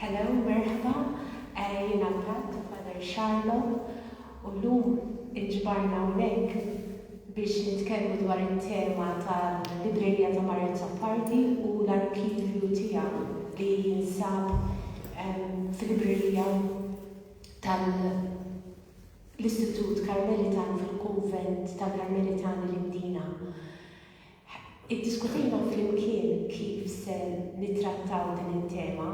Hello, merħba, eh, jiena l-Pat, Father Charlotte, u l-lum inġbarna unek biex nitkellmu dwar il-tema tal-Librerija ta' Marju Zappardi u l-arkivju tiegħu li jinsab ehm, fil-Librerija tal- l-Istitut Karmelitan fil-Kunvent tal-Karmelitani l-Imdina. Iddiskutejna flimkien kif se nittrattaw din it-tema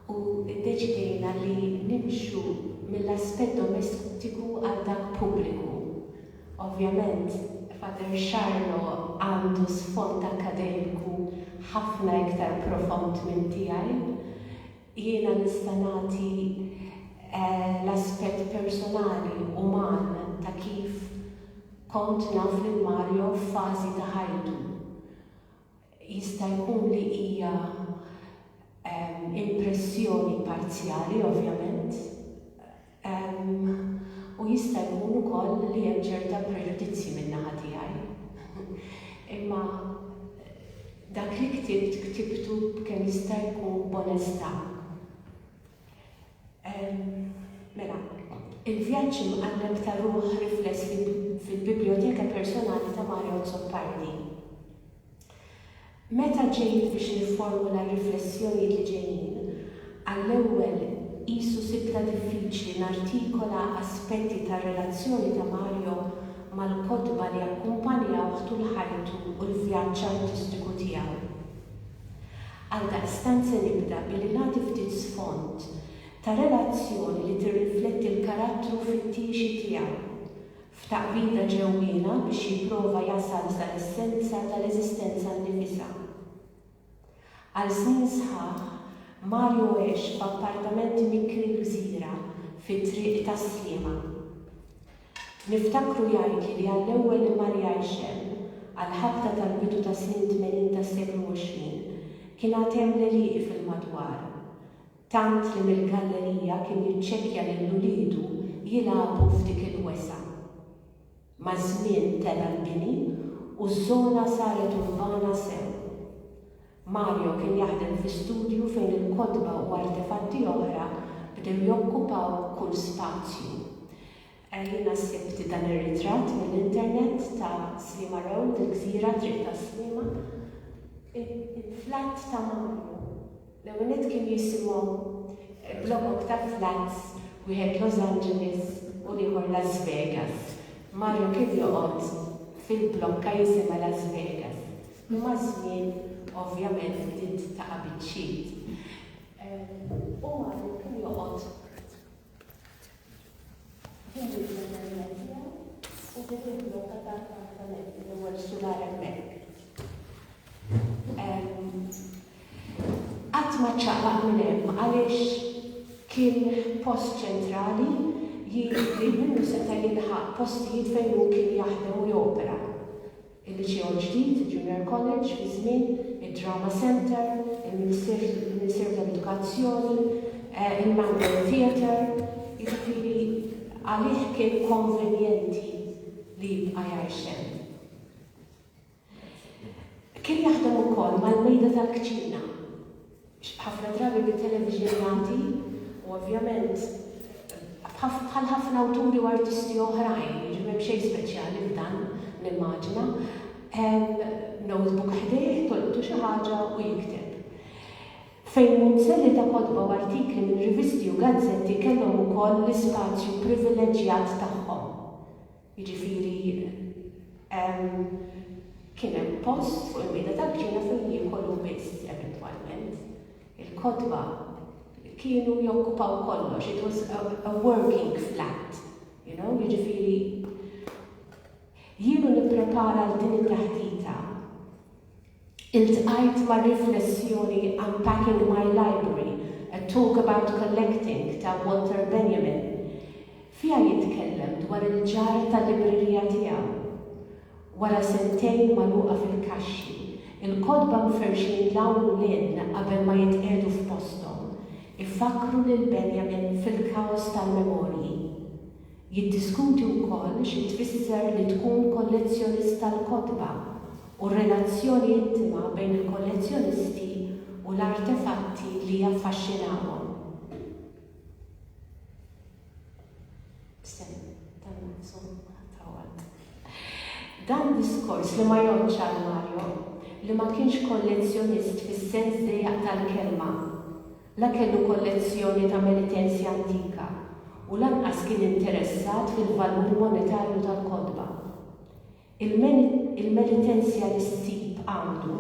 u ddeċidejna li nimxu mill-aspett domestiku għal dak pubbliku. Ovvjament, Father Charlo għandu sfond akkademiku ħafna iktar profond minn tiegħi. Jiena nista' nagħti l-aspett personali, uman, ta' kif kont naf lil Mario f'fażi ta' ħajtu. Jista' jkun li hija impressjoni parzjali, ovvjament, u jista' jkun ukoll li hemm ċerta preġudizzji min-naħa tiegħi. Imma dak li ktibt, ktibtu b'kemm jista' jkun b'onestà. Mela, il-vjaġġ imqalleb ta' ruħ rifless fil-Bibljoteka Personali ta' Mario Azzopardi. Meta ġejt biex nifformula r-riflessjonijiet li ġejjin, għall-ewwel qisu sibtha diffiċli nartikola aspetti tar-relazzjoni ta' Mario mal-kotba li akkumpanjawh tul ħajtu u l-vjaġġ artistiku tiegħu. Għaldaqstant se nibda billi nagħti ftit sfond ta' relazzjoni li tirrifletti l-karattru fittiexi tiegħu f'taqbida ġewwiena biex jipprova jasal sal-essenza tal-eżistenza nnifisha. Għal snin sħaħ, Mario għex f'appartament mikri gżira fi Triq tas-Sliema. Niftakru jgħidli li għall-ewwel immarjajx hemm, għall-ħabta tal-bidu tas-snin tmenin tas-seklu għoxrin, kien għad hemm l-għelieqi fil-madwar. Tant li mill-gallerija kien jiċċekkja lil uliedu jilagħbu f'dik il-wesgħa. Maż-żmien tela' l-bini u ż-żona saret urbana sew. Mario kien jaħdem fi studju fejn il-kotba u artefatti oħra bdew jokkupaw kull spazju. Jiena sibt dan ir-ritratt mill-internet ta' Sliema Road, il-gżira, Triq tas-Sliema. Il-flat ta' Mario. L-ewwel nett kien jisimhom blokok ta' flats, wieħed Los Angeles u l-ieħor Las Vegas. Mario kien joqgħod fil-blokka jisimha Las Vegas, li maż-żmien ovvjament bdiet taqa' biċċiet. Hu għadu kien joqgħod Għatma ċaqlaq minn hemm għaliex kien post ċentrali jien li minnu seta' jilħaq postijiet fejn hu kien jaħdem u jopera. il-Liċew il-ġdid, il-Junior College fi żmien, id-Drama Centre, il-Ministeru tal-Edukazzjoni, il-Mandan Theatre, jiġifieri għalih kien konvenjenti li jibqa' jgħix hemm. Kien jaħdem ukoll mal-mejda tal-kċina. ħafna drabi bi television malti u ovvjament bħal ħafna awturi u artisti oħrajn, jiġifieri m'hemm xejn speċjali f'dan nimmaġina, notebook ħdejh, tolqtu xi ħaġa u jikteb. Fejn munzelli ta' kotba u artikli minn rivisti u gazzetti kellhom ukoll l-ispazju privileġġjat tagħhom. Jiġifieri kien hemm post fuq il-mejda tal-ġiena fejn jiekolu biss eventwalment. Il-kotba kienu jokkupaw kollox, it was a working flat, you know, jiġifieri jiena nipprepara għal din it-taħdita. Iltqajt mar-riflessjoni Unpacking My Library, A Talk About Collecting ta' Walter Benjamin. Fiha jitkellem dwar il-ġar tal-librerija tiegħu. Wara sentejn magħluqa fil-kaxxi, il-kotba mferrxin 'l hawn u 'l hinn qabel ma jitqiegħdu f'posthom, ifakkru lil Benjamin fil-kaos tal-memorji. Jiddiskuti wkoll xi tfisser li tkun kollezzjonist tal-kotba u r-relazzjoni intima bejn il-kollezzjonisti u l-artefatti li jaffaxxinawhom. Dan diskors li ma jgħoddx għal Mario, li ma kienx kollezzjonist fis-sens dejjaq tal-kelma. La kellu kollezzjoni ta' penitenzja antika u lanqas kien interessat fil-valur monetarju tal-kotba. Il-penitenzja li ssib għandu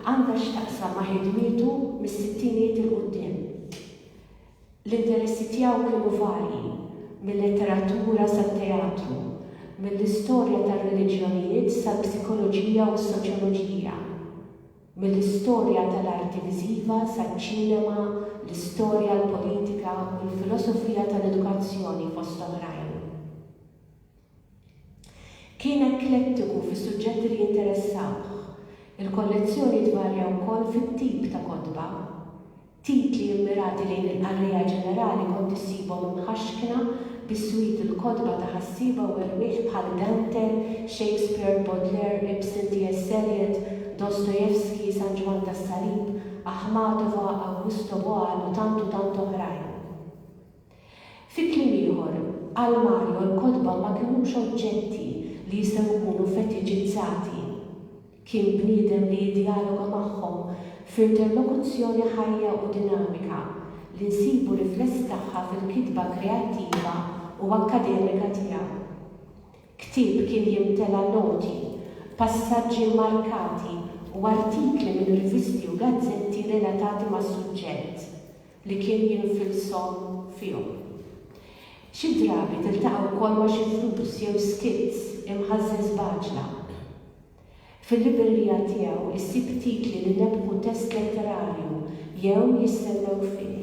għandha x'taqsam ma' ħidmietu mis-sittinijiet 'il quddiem. L-interessi tiegħu kienu varji, mil-letteratura sat-teatru, mill-istorja tar-reliġjonijiet sal-psikoloġija u s-soċjoloġija. Mill-istorja tal-arti viżiva saċ-ċinema, l-istorja, l-politika u l-filosofija tal-edukazzjoni fost oħrajn. Kien eklettiku fis-suġġetti li jinteressawh. Il-kollezzjoni tvarja wkoll fit-tip ta' kotba. Titli mmirati lejn il-qarrejja ġenerali kont issibhom imħaxkna biswit il-kotba ta' ħassieba u erwieħ bħal Dante, Shakespeare, Baudelaire, Ibsen, TS. Eliot, Dostoevsky, San Ġwann tas-Salib, Aħmatova, Awgusto Boal u tant u tant oħrajn. Fi kliem ieħor, għal Mario l-kotba ma kinux oġġetti li jistgħu jkunu fetiċizzati. Kien bniedem li jiddjaloga magħhom f'interlokuzzjoni ħajja u dinamika li nsibu rifless tagħha fil-kitba kreattiva u akkademika tiegħu. Ktieb kien jimtela noti, passaġġi mmarkati u artikli minn rivisti u gazzetti relatati mas-suġġett. li kien jinfilshom fihom. Xi drabi tiltaqa' wkoll ma' xi flus jew skits imħażżin sbaġla. Fil-librerija tiegħu ssib titli li nebbħu test letterarju jew jistennew fih.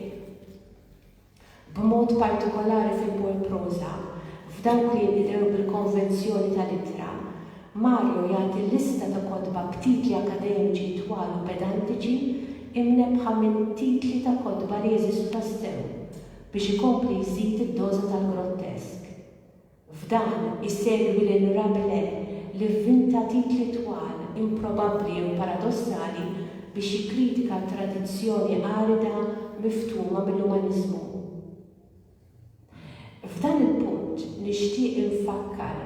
B'mod partikolari fil-poeproża, f'dawk li jinqdew bil-konvenzjoni tal-ittra, Mario jagħti lista ta' kotba b'titli akkademiċi twal u pedantiċi imnebbħa minn titli ta' kotba li jeżistu tassew biex ikompli jżid id-doża tal-grottesk. F'dan, isegwi lil Rabelais li vvinta titli twal, improbabbli jew paradossali biex jikkritika t-tradizzjoni arida miftuma mill-umaniżmu. F'dan il-punt nixtieq infakkar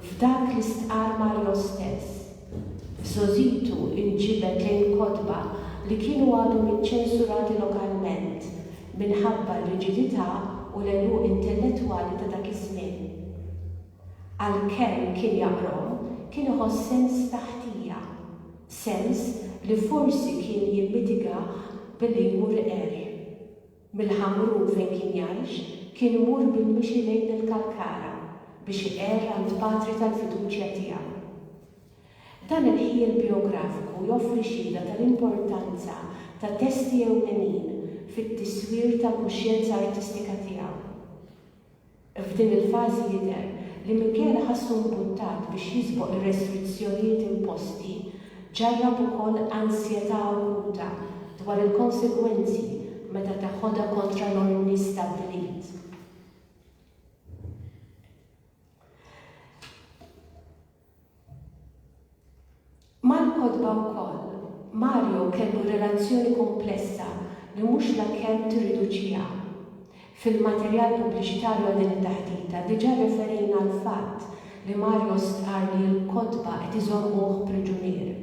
f'dak li stqarr Mario stess. F'Sozitu inġibed lejn kotba li kienu għadhom iċċensurati lokalment minħabba r-riġidità u l-għeluq intellettwali ta' dak iż-żmien. Għalkemm kien jaqrom, kien iħoss sens ta' ħtija, sens li forsi kien jimmitigah billi jmur iqerr. Mill-Ħamrun fejn kien jgħix, kien imur bil-mixi lejn il-Kalkara biex iqerr għand patri tal-fiduċja tiegħu. Dan il-ħjiel bijografiku joffri xhieda tal-importanza ta' testi ewlenin fit-tiswir tal-kuxjenza artistika tiegħu. F'din il-fażi jidher li minkejja li ħassu mbuttat biex jisboq ir-restrizzjonijiet imposti, ġarrab ukoll ansjetà akuta dwar il-konsegwenzi meta teħodha kontra l-ordni stabbilit. Mal-kotba wkoll, Mario kellu relazzjoni kumplessa li mhux la kemm tirriduċiha. Fil-materjal pubbliċitarju għal din it-taħdita diġà rreferejna għall-fatt li Mario stqarr li l-kotba qed iżommuh priġunier.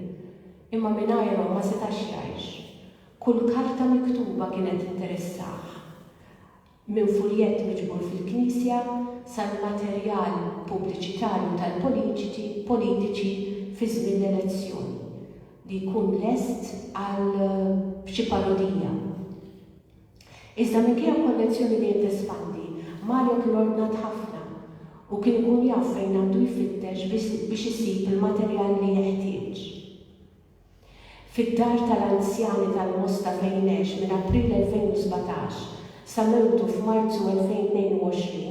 Imma mingħajrhom ma setax jgħix. Kull karta miktuba kienet tinteressah. minn fuljett miġbur fil-knisja sal-materjal pubbliċitarju tal-politiċi politiċi fi żmien l-elezzjoni li jkun lest għal xi parodija. Iżda minkejja kollezzjoni dejjem tespandi, Mario kien ordnat ħafna u kien ikun jaf fejn għandu jfittex biex isib il-materjal li jeħtieġ. fid-dar tal-anzjani tal-Mosta fejn għex minn April 2017 sa mewtu f'Marzu 2022,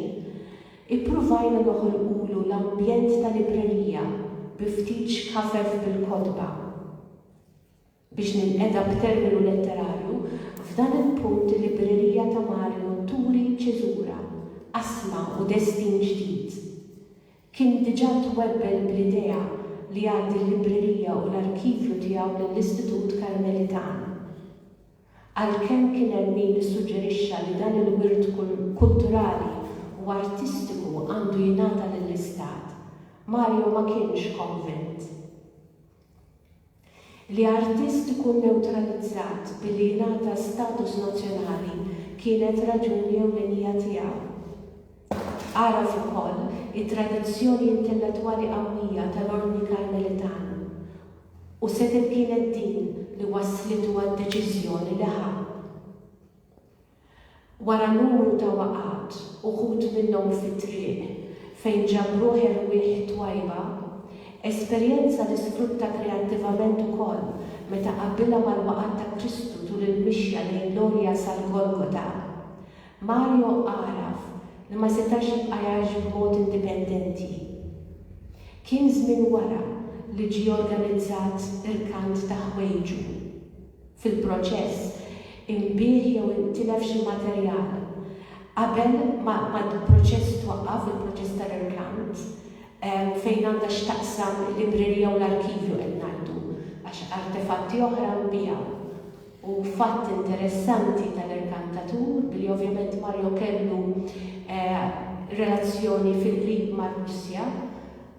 ippruvajna noħolqulu l-ambjent ta' librerija bi ftit xkafef bil-kotba. Biex ninqeda b'terminu letterarju, f'dan il-punt il-librerija ta' Mario turi ċiżura, qasma u destin ġdid. Kien diġà twebbel bl-idea li jgħaddi l-librerija u l-arkivju tiegħu lill-Istitut Karmelitan. Għalkemm kien hemm min issuġġerixxa li dan il-wirt kulturali u artistiku għandu jingħata lill-Istat, Mario ma kienx konvint. Li artist ikun newtralizzat billi jingħata status nazzjonali kienet raġuni ewlenija tiegħu. Għaraf ukoll it-tradizzjoni intellettwali qawwija tal-Ordni Karmelitan u setgħet kienet din li wasslitu għad-deċiżjoni li ħa. Wara numru ta' waqgħat, uħud minnhom fit-triq, fejn ġabruh erwieħ twajba, esperjenza li sfrutta kreattivament ukoll meta qabbilha mal-waqgħat ta' Kristu tul il-mixja lejn l-għolja sal-Golgota, Mario għaraf li ma setax jibqa' jgħix b'mod indipendenti. Kien żmien wara li ġie organizzat irkant ta' ħwejġu. fil-proċess, inbiegħ jew intilef xi materjal qabel ma l-proċess twaqqaf, il-proċess ta' reklamnt, fejn għandha x'taqsam il-librerija u l-arkivju qed ngħidu għax artefatti oħra nbiegħu. U fatt interessanti tal-erkantatur, billi ovvjament Mario kellu relazzjoni fil-qrib mar-Russja,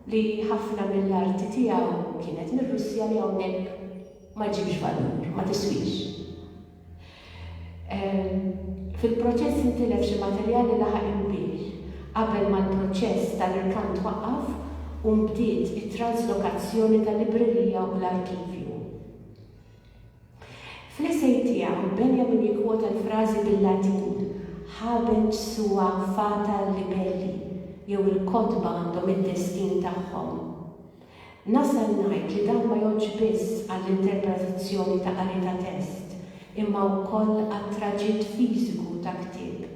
li ħafna mill-arti tiegħu kienet mir-Russja li hawnhekk ma ġġibx valur, ma tiswix. Fil-proċess intilef xi materjal li laħaq il-lbieh qabel ma l-proċess tal-irkant twaqqaf u nbdiet it-trażlokazzjoni tal-librerija u l-arkivju. Fl-essej tiegħu, Benjamin jikkwota l-frażi bil-Latin Habex sua fata libelli jew il-kotba għandhom id-destin tagħhom. Nasal ngħid li dan ma jgħoddx biss għall-interpretazzjoni ta' qari ta' test imma wkoll għat-traġitt fiżiku ta' ktieb.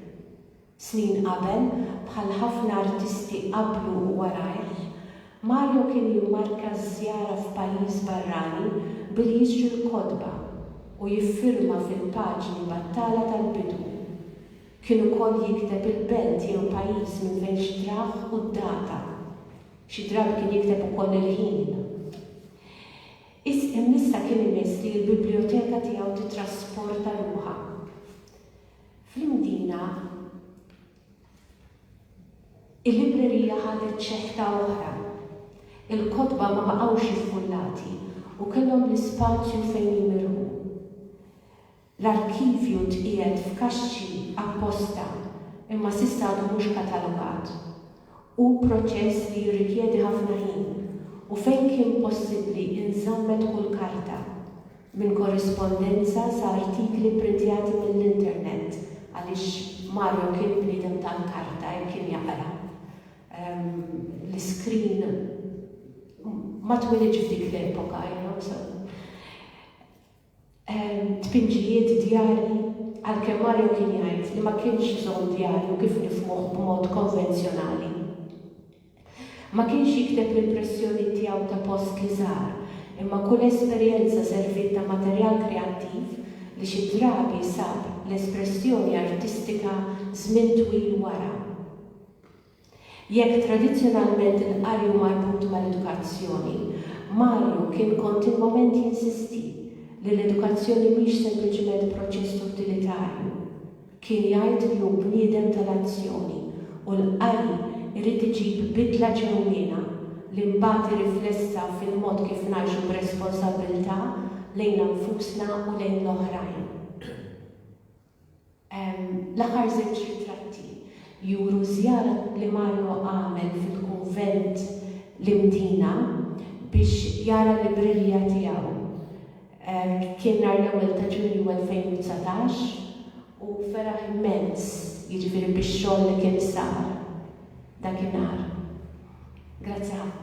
Snin qabel, bħal ħafna artisti qablu u warajh, Mario kien jimmarka ż-żjara f'pajjiż barrani billi jixtri l-kotba u jiffirma fil-paġni battala tal-bidu. Kien ukoll jikteb il-belt jew pajjiż minn fejn xtrah u d-data. Xi drabi kien jikteb ukoll il-ħin. Imissa kien imiss li l-biblijoteka tiegħu tittrasporta ruħha fl-Imdina. Il-librerija ħadet ċeħta oħra. Il-kotba ma baqgħux iffullati u kellhom l-ispazju fejn jimirħu. L-arkivju tqiegħed f'kaxxi apposta imma s'issa għadu mhux katalogat. Hu proċess li jirrikjedi ħafna ħin u fejn kien possibbli inżammet kull karta, minn korrispondenza sa artikli pprintjati mill-internet għaliex Mario kien bniedem tal-karta jekk kien jaqra. L-iskrin ma twelidx f'dik l-epoka, you know, so. tpinġijiet, djarji, għalkemm Mario kien jgħid li ma kienx iżomm djarju kif nifhmuh b'mod konvenzjonali. Ma kienx jikteb l-impressjoniet tiegħu ta' post li żar, imma kull esperjenza serviet ta' materjal kreattiv li xi drabi sab l-espressjoni artistika żmien twil wara. Jekk tradizzjonalment il-qari hu marbut mal-edukazzjoni, Mario kien kontinwament jinsisti li l-edukazzjoni mhix sempliċiment proċess utilitarju. Kien jgħid li hu bniedem tal-azzjoni u l-qari jrid iġib bidla ġenwina li mbagħad irriflessa fil-mod kif ngħixu b'responsabbiltà lejna nfusna u lejn l-oħrajn. L-aħħar żewġ ritratti juru żjara li Mario għamel fil-kunvent l-Imdina biex jara librerija tiegħu. Kien nhar l-ewwel ta' Ġunju 2019 u feraħ immens, jiġifieri bix-xogħol li kien sar dakinhar. Grazzi ħafna.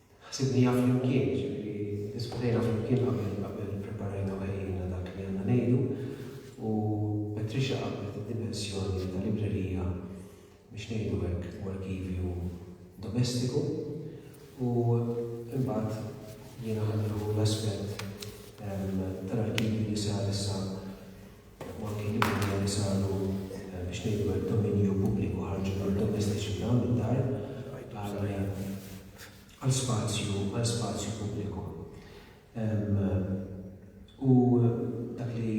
Ħsibniha flimkien, jiġifieri ddiskutejna flimkien qabel ppreparajna u ħejjejna dak li għandna ngħidu u Patricia qabblet id-dimensjoni ta' librerija, biex ngħidu hekk, u arkivju domestiku u imbagħad jiena ħadd nieħu l-aspett tal-arkivju li sar issa u anki l-impenji li saru biex ngħidu hekk dominju pubbliku ħarġu mid-domestiċi f'dawn id-dar għal spazju għal spazju pubbliku. U dak li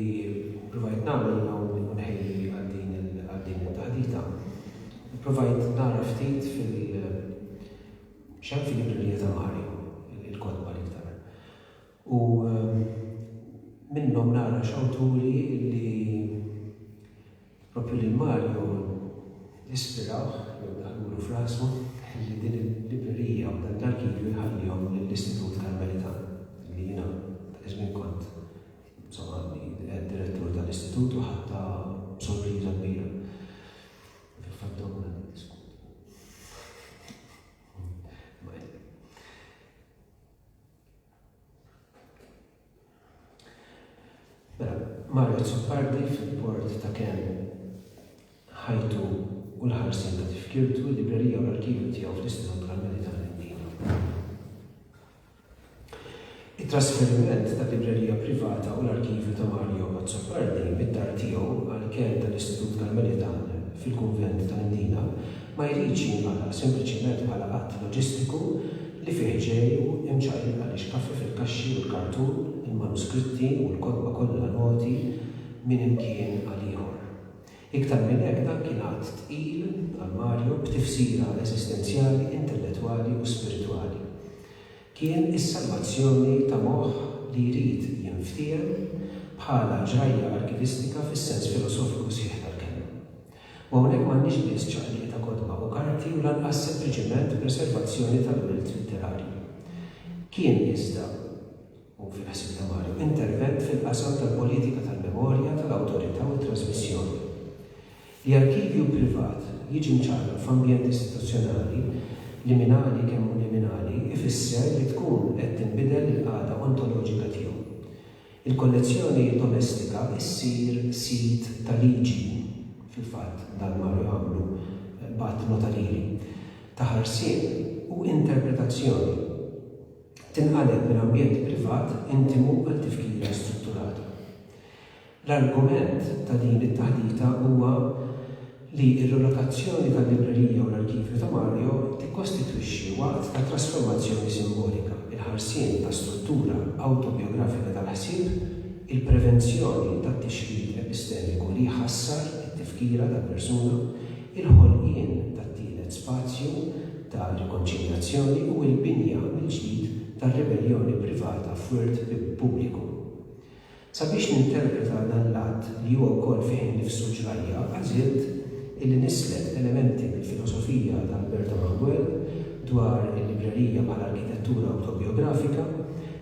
provajt nagħmel illum u nħejji għal din it-taħdita, provajt nara ftit fil- xem fil-librerija ta' Mari, il-kotba l-iktar. U minnhom nara x'awturi li proprju lil Mario ispirawh jew daħlulu f'rasu li din il-librerija u dan l-arkivju jħallihom lill-Istitut Karmelitan li jiena dak iż-żmien kont insomma għadni qiegħed direttur tal-istitut u ħadtha b'sorpriża kbira. Fil-fatt domna niddiskutu. Mela, mar Azzopardi fil-port ta' Can ħajtu u l-ħarsien ta' tifkirtu, il-librerija u l-arkivju tiegħu fl-Istitut tal-Medja tal-Mdina. It-trasferiment tal-librerija privata u l-arkivju ta' Mario Azzopardi mid-dar tiegħu għall-Can tal-Istitut Karmelitan fil-Kunvent tal-Mdina ma jridx jinqara sempliċement bħala att loġistiku li fih ġej u imċaqlib għaliex kaffi fil-kaxxi u l-kartun, il-manuskritti u l-kotba kollha noti minn imkien għal ieħor. Iktar minn hekk dan kien att tqil għal Mario b'tifsira eżistenzjali, intellettwali u spiritwali. Kien is-salvazzjoni ta' moħħ li jrid jinftiehem bħala ġrajja arkivistika fis-sens filosofiku sħiħ tal-kelma. U hawnhekk m'għandniex biss ċaqliq ta' kotba u karti u lanqas sempliċement preservazzjoni tal-wirt litterarju. Kien iżda, u fil-ħsieb ta' Mario, intervent fil-qasam tal-politika tal-memorja, tal-awtorità u t-trasmissjoni. Li arkivju privat jiġi mċarraq f'ambjent istituzzjonali, liminali kemm hu liminali, ifisser li tkun qed tinbidel il-qagħda ontoloġika tiegħu. Il-kollezzjoni domestika ssir sit ta' liġi, fil-fatt dan marru jagħmlu b'att notarili, ta' ħarsien u interpretazzjoni. Tinqaleb minn ambjent privat intimu għal tifkira strutturata. L-argument ta' din it-taħdita huwa, li r-rilokazzjoni tal-librerija u l-arkivju ta' Mario tikkostitwixxi waqt ta' trasformazzjoni simbolika, il-ħarsien ta' struttura awtobijografika tal-ħsieb, il-prevenzjoni tat-tixrid epistemiku li jħassar it-tifkira tal-persuna, il-ħolqien tat-tielet spazju ta' rikonċiljazzjoni u l-binja mill-ġdid tar-ribelljoni privata f'wirt pubbliku. Sabiex ninterpreta dan l-att, li huwa wkoll fih innifsu ġrajja, għażilt illi nisleb elementi mill-filosofija ta' Alberto Manguel dwar il-librerija bħala arkitettura awtobijografika,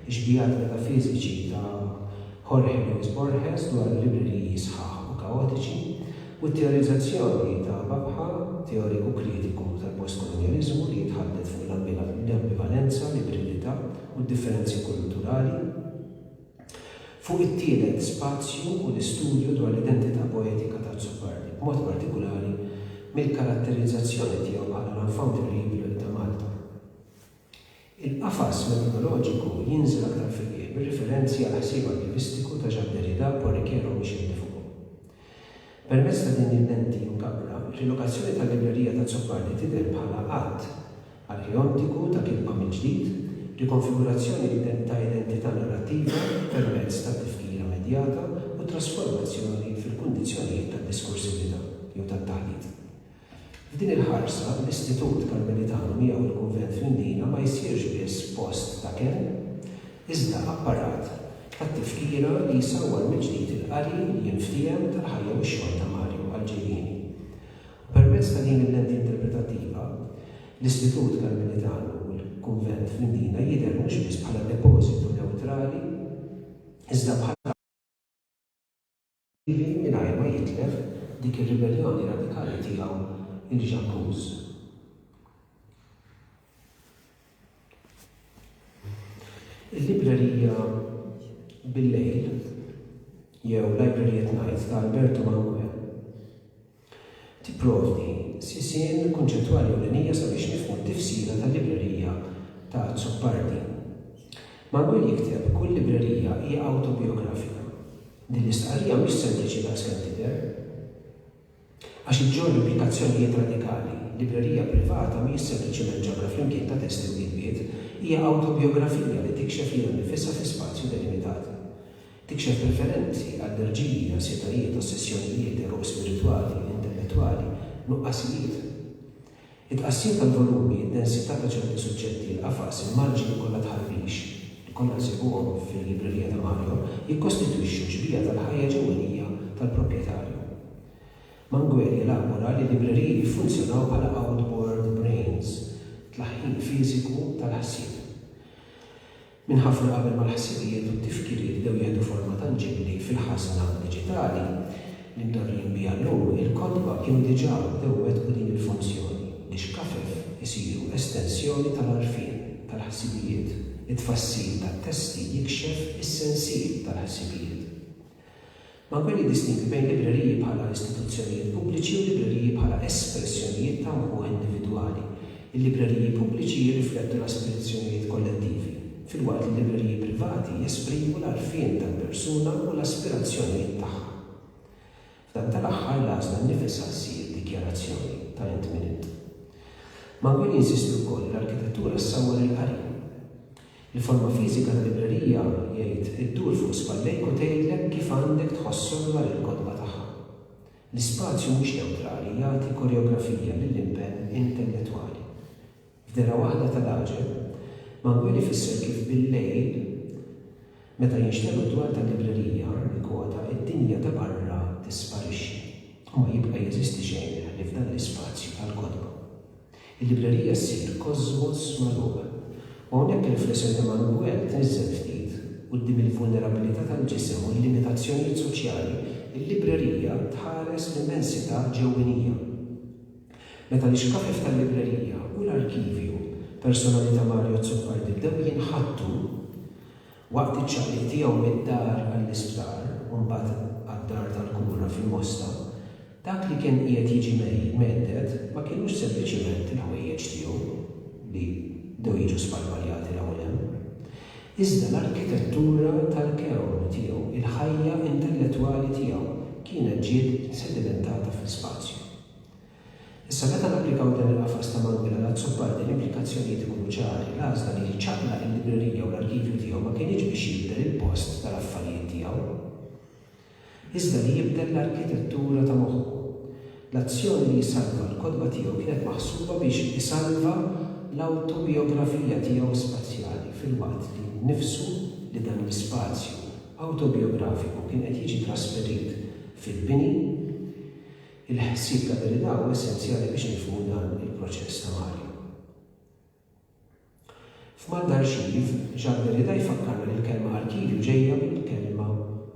ix-xbihati metafiżiċi ta' Jorge Luis Borges dwar libreriji sħaħ u kaotiċi, u t-teorizzazzjoni ta' Babħa, teoriku kritiku tal-postkolonjaliżmu li jitħaddet fuq l-ambivalenza, l-ibridità, u d-differenzi kulturali. Fuq it-tielet spazju u l-istudju dwar l-identità poetika ta' Azzopardi, b'mod partikulari mill-karatterizzazzjoni tiegħu bħala l-enfant terrible ta' Malta. Il-qafas metodoloġiku jinżel aktar fil-qiegħ bir-riferenzi għall-ħsieb arkivistiku ta' Jacques Derrida, Paul Riquero u Michel Defoe. Permezz ta' din il-lenti mkabbra, rilokazzjoni tal-librerija ta' Zoccagli tidher bħala att arheontiku ta' kitba mill-ġdid, rikonfigurazzjoni ta' identità narrattiva permezz ta' tifkira medjata u trasformazzjoni fil-kundizzjonijiet tad-diskursività jew tat-taħdit. F'din il-ħarsa, l-Istitut Karmelitanu miegħu l-Kunvent fl-Imdina ma jsirx biss post ta' kenn, iżda apparat tat-tifkira li jsawwar mill-ġdid il-qari li jien ftiehem tal-ħajja u x-xogħol ta' Mario għall-ġejjieni. U permezz ta' din il-lenti interpretattiva, l-Istitut Karmelitanu u l-Kunvent fl-Imdina jidher mhux biss bħala depożitu newtrali iżda bħala Ħlief mingħajr ma jitlef dik ir-ribelljoni radikali tiegħu l-Ġabbuż. Il-librerija bil-lejl jew Library at Night ta' Alberto Manguel Tipprovdi sisien kunċettwali ewlenija sabiex nifhmu t-tifsira tal-librerija ta' Azzopardi. Manuel jikteb, Kull librerija hija awtobijografika. Din l-istqarrija mhix sempliċi daqs kemm tidher, għax iġġorr implikazzjonijiet radikali. Librerija privata mhijiex sempliċiment ġabra flimkien ta' testi u kitbiet, hija awtobijografija li tikxef lilha nnifisha fi spazju delimitat. Tikxef preferenzi, allerġiji, ansjetajiet, ossessjonijiet, għeruq spiritwali, intellettwali, nuqqasijiet. It-tqassim tal-volumi, id-densità ta' ċerti suġġetti, il-qafas, il-marġini kollha tħarrix, li kollha nsibuhom fil-librerija ta' Mario, jikkostitwixxu xbieha tal-ħajja ġewwenija tal-proprjetarju. Manguel jelabora li l-libreriji jiffunzjonaw bħala outboard brains, tlaħħin fiżiku tal-ħsieb. Minn ħafna qabel ma l-ħsibijiet u t-tifkiriet bdew jieħdu forma tanġibbli fil-ħażna diġitali li mdorrijin biha llum, il-kotba kienu diġà bdew iwettqu din il-funzjoni, li xkafef isiru estensjoni tal-għarfien, tal-ħsibijiet, it-tfassil tat-testi jikxef is-sensiel tal-ħsibijiet. Ma jkun jiddistingwi bejn libreriji bħala istituzzjonijiet pubbliċi u libreriji bħala espressjonijiet ta' mħuħ individwali. Il-libreriji pubbliċi jirriflettu l-aspirazzjonijiet kollettivi, filwaqt li l-libreriji privati jesprimu l-għarfien tal-persuna u l-aspirazzjonijiet tagħha. F'dan tal-aħħar l-għażla nnifisha ssir dikjarazzjoni ta' int min int. Manguel jinsisti wkoll li l-arkitettura ssawwar il-qari. Il-forma fiżika ta' librerija, jgħid, iddur fuq spallejk u tgħidlek kif għandek tħossok dwar il-kotba tagħha. L-ispazju mhux newtrali jagħti koreografija lill-impenn intellettwali. F'dehra waħda ta' raġel, Manguel ifisser kif billejl, meta jinxtegħlu d-dwar tal-librerija, nikkwota, id-dinja ta' barra tisparixxi u ma jibqa' jeżisti xejn ħlief dan l-ispazju tal-kotba. Il-librerija ssir kosmos magħluq, u hawnhekk ir-riflessjoni ta' Manuel tniżżel ftit quddiem il-vulnerabilità tal-ġisem u l-limitazzjonijiet soċjali, il-librerija tħares l-immensità ġewwinija. Meta l-ixkafef tal-librerija u l-arkivju personali ta' Mario Azzopardi bdew jinħattu, Waqt iċ-ċaqliq tiegħu mid-dar għall-isptar u mbagħad għad-dar tal-kura fil-Mosta, dak li kien qiegħed jiġi mhedded ma kinux sempliċement il-ħwejjeġ tiegħu li bdew jiġu sparpaljati 'l hawn 'l hemm, iżda l-arkitettura tal-kewnu tiegħu, il-ħajja intellettwali tiegħu kienet ġiet sedimentata fl-ispazju. Issa meta napplikaw dan il-qafas ta' Manuela l-Azzopardi l-implikazzjonijiet ikunu ċari, l-għażla li jiċċaqlaq il-librerija u l-arkivju tiegħu ma kinitx biex jibdel il-post tal-affarijiet tiegħu, iżda li jibdel l-arkitettura ta' moħħu. L-azzjoni li jsalva l-kotba tiegħu kienet maħsuba biex isalva l-awtobijografija tiegħu spazjali filwaqt li nnifsu li dan l-ispazju awtobijografiku kien qed jiġi trasferit fil-bini, Il-ħsieb ta' verità huwa essenzjali biex nifhmu dan il-proċess ta' Mario. F'Mal tal-Arxiv, Jacques Derrida jfakkarna li l-kelma arkivju ġejja mill-kelma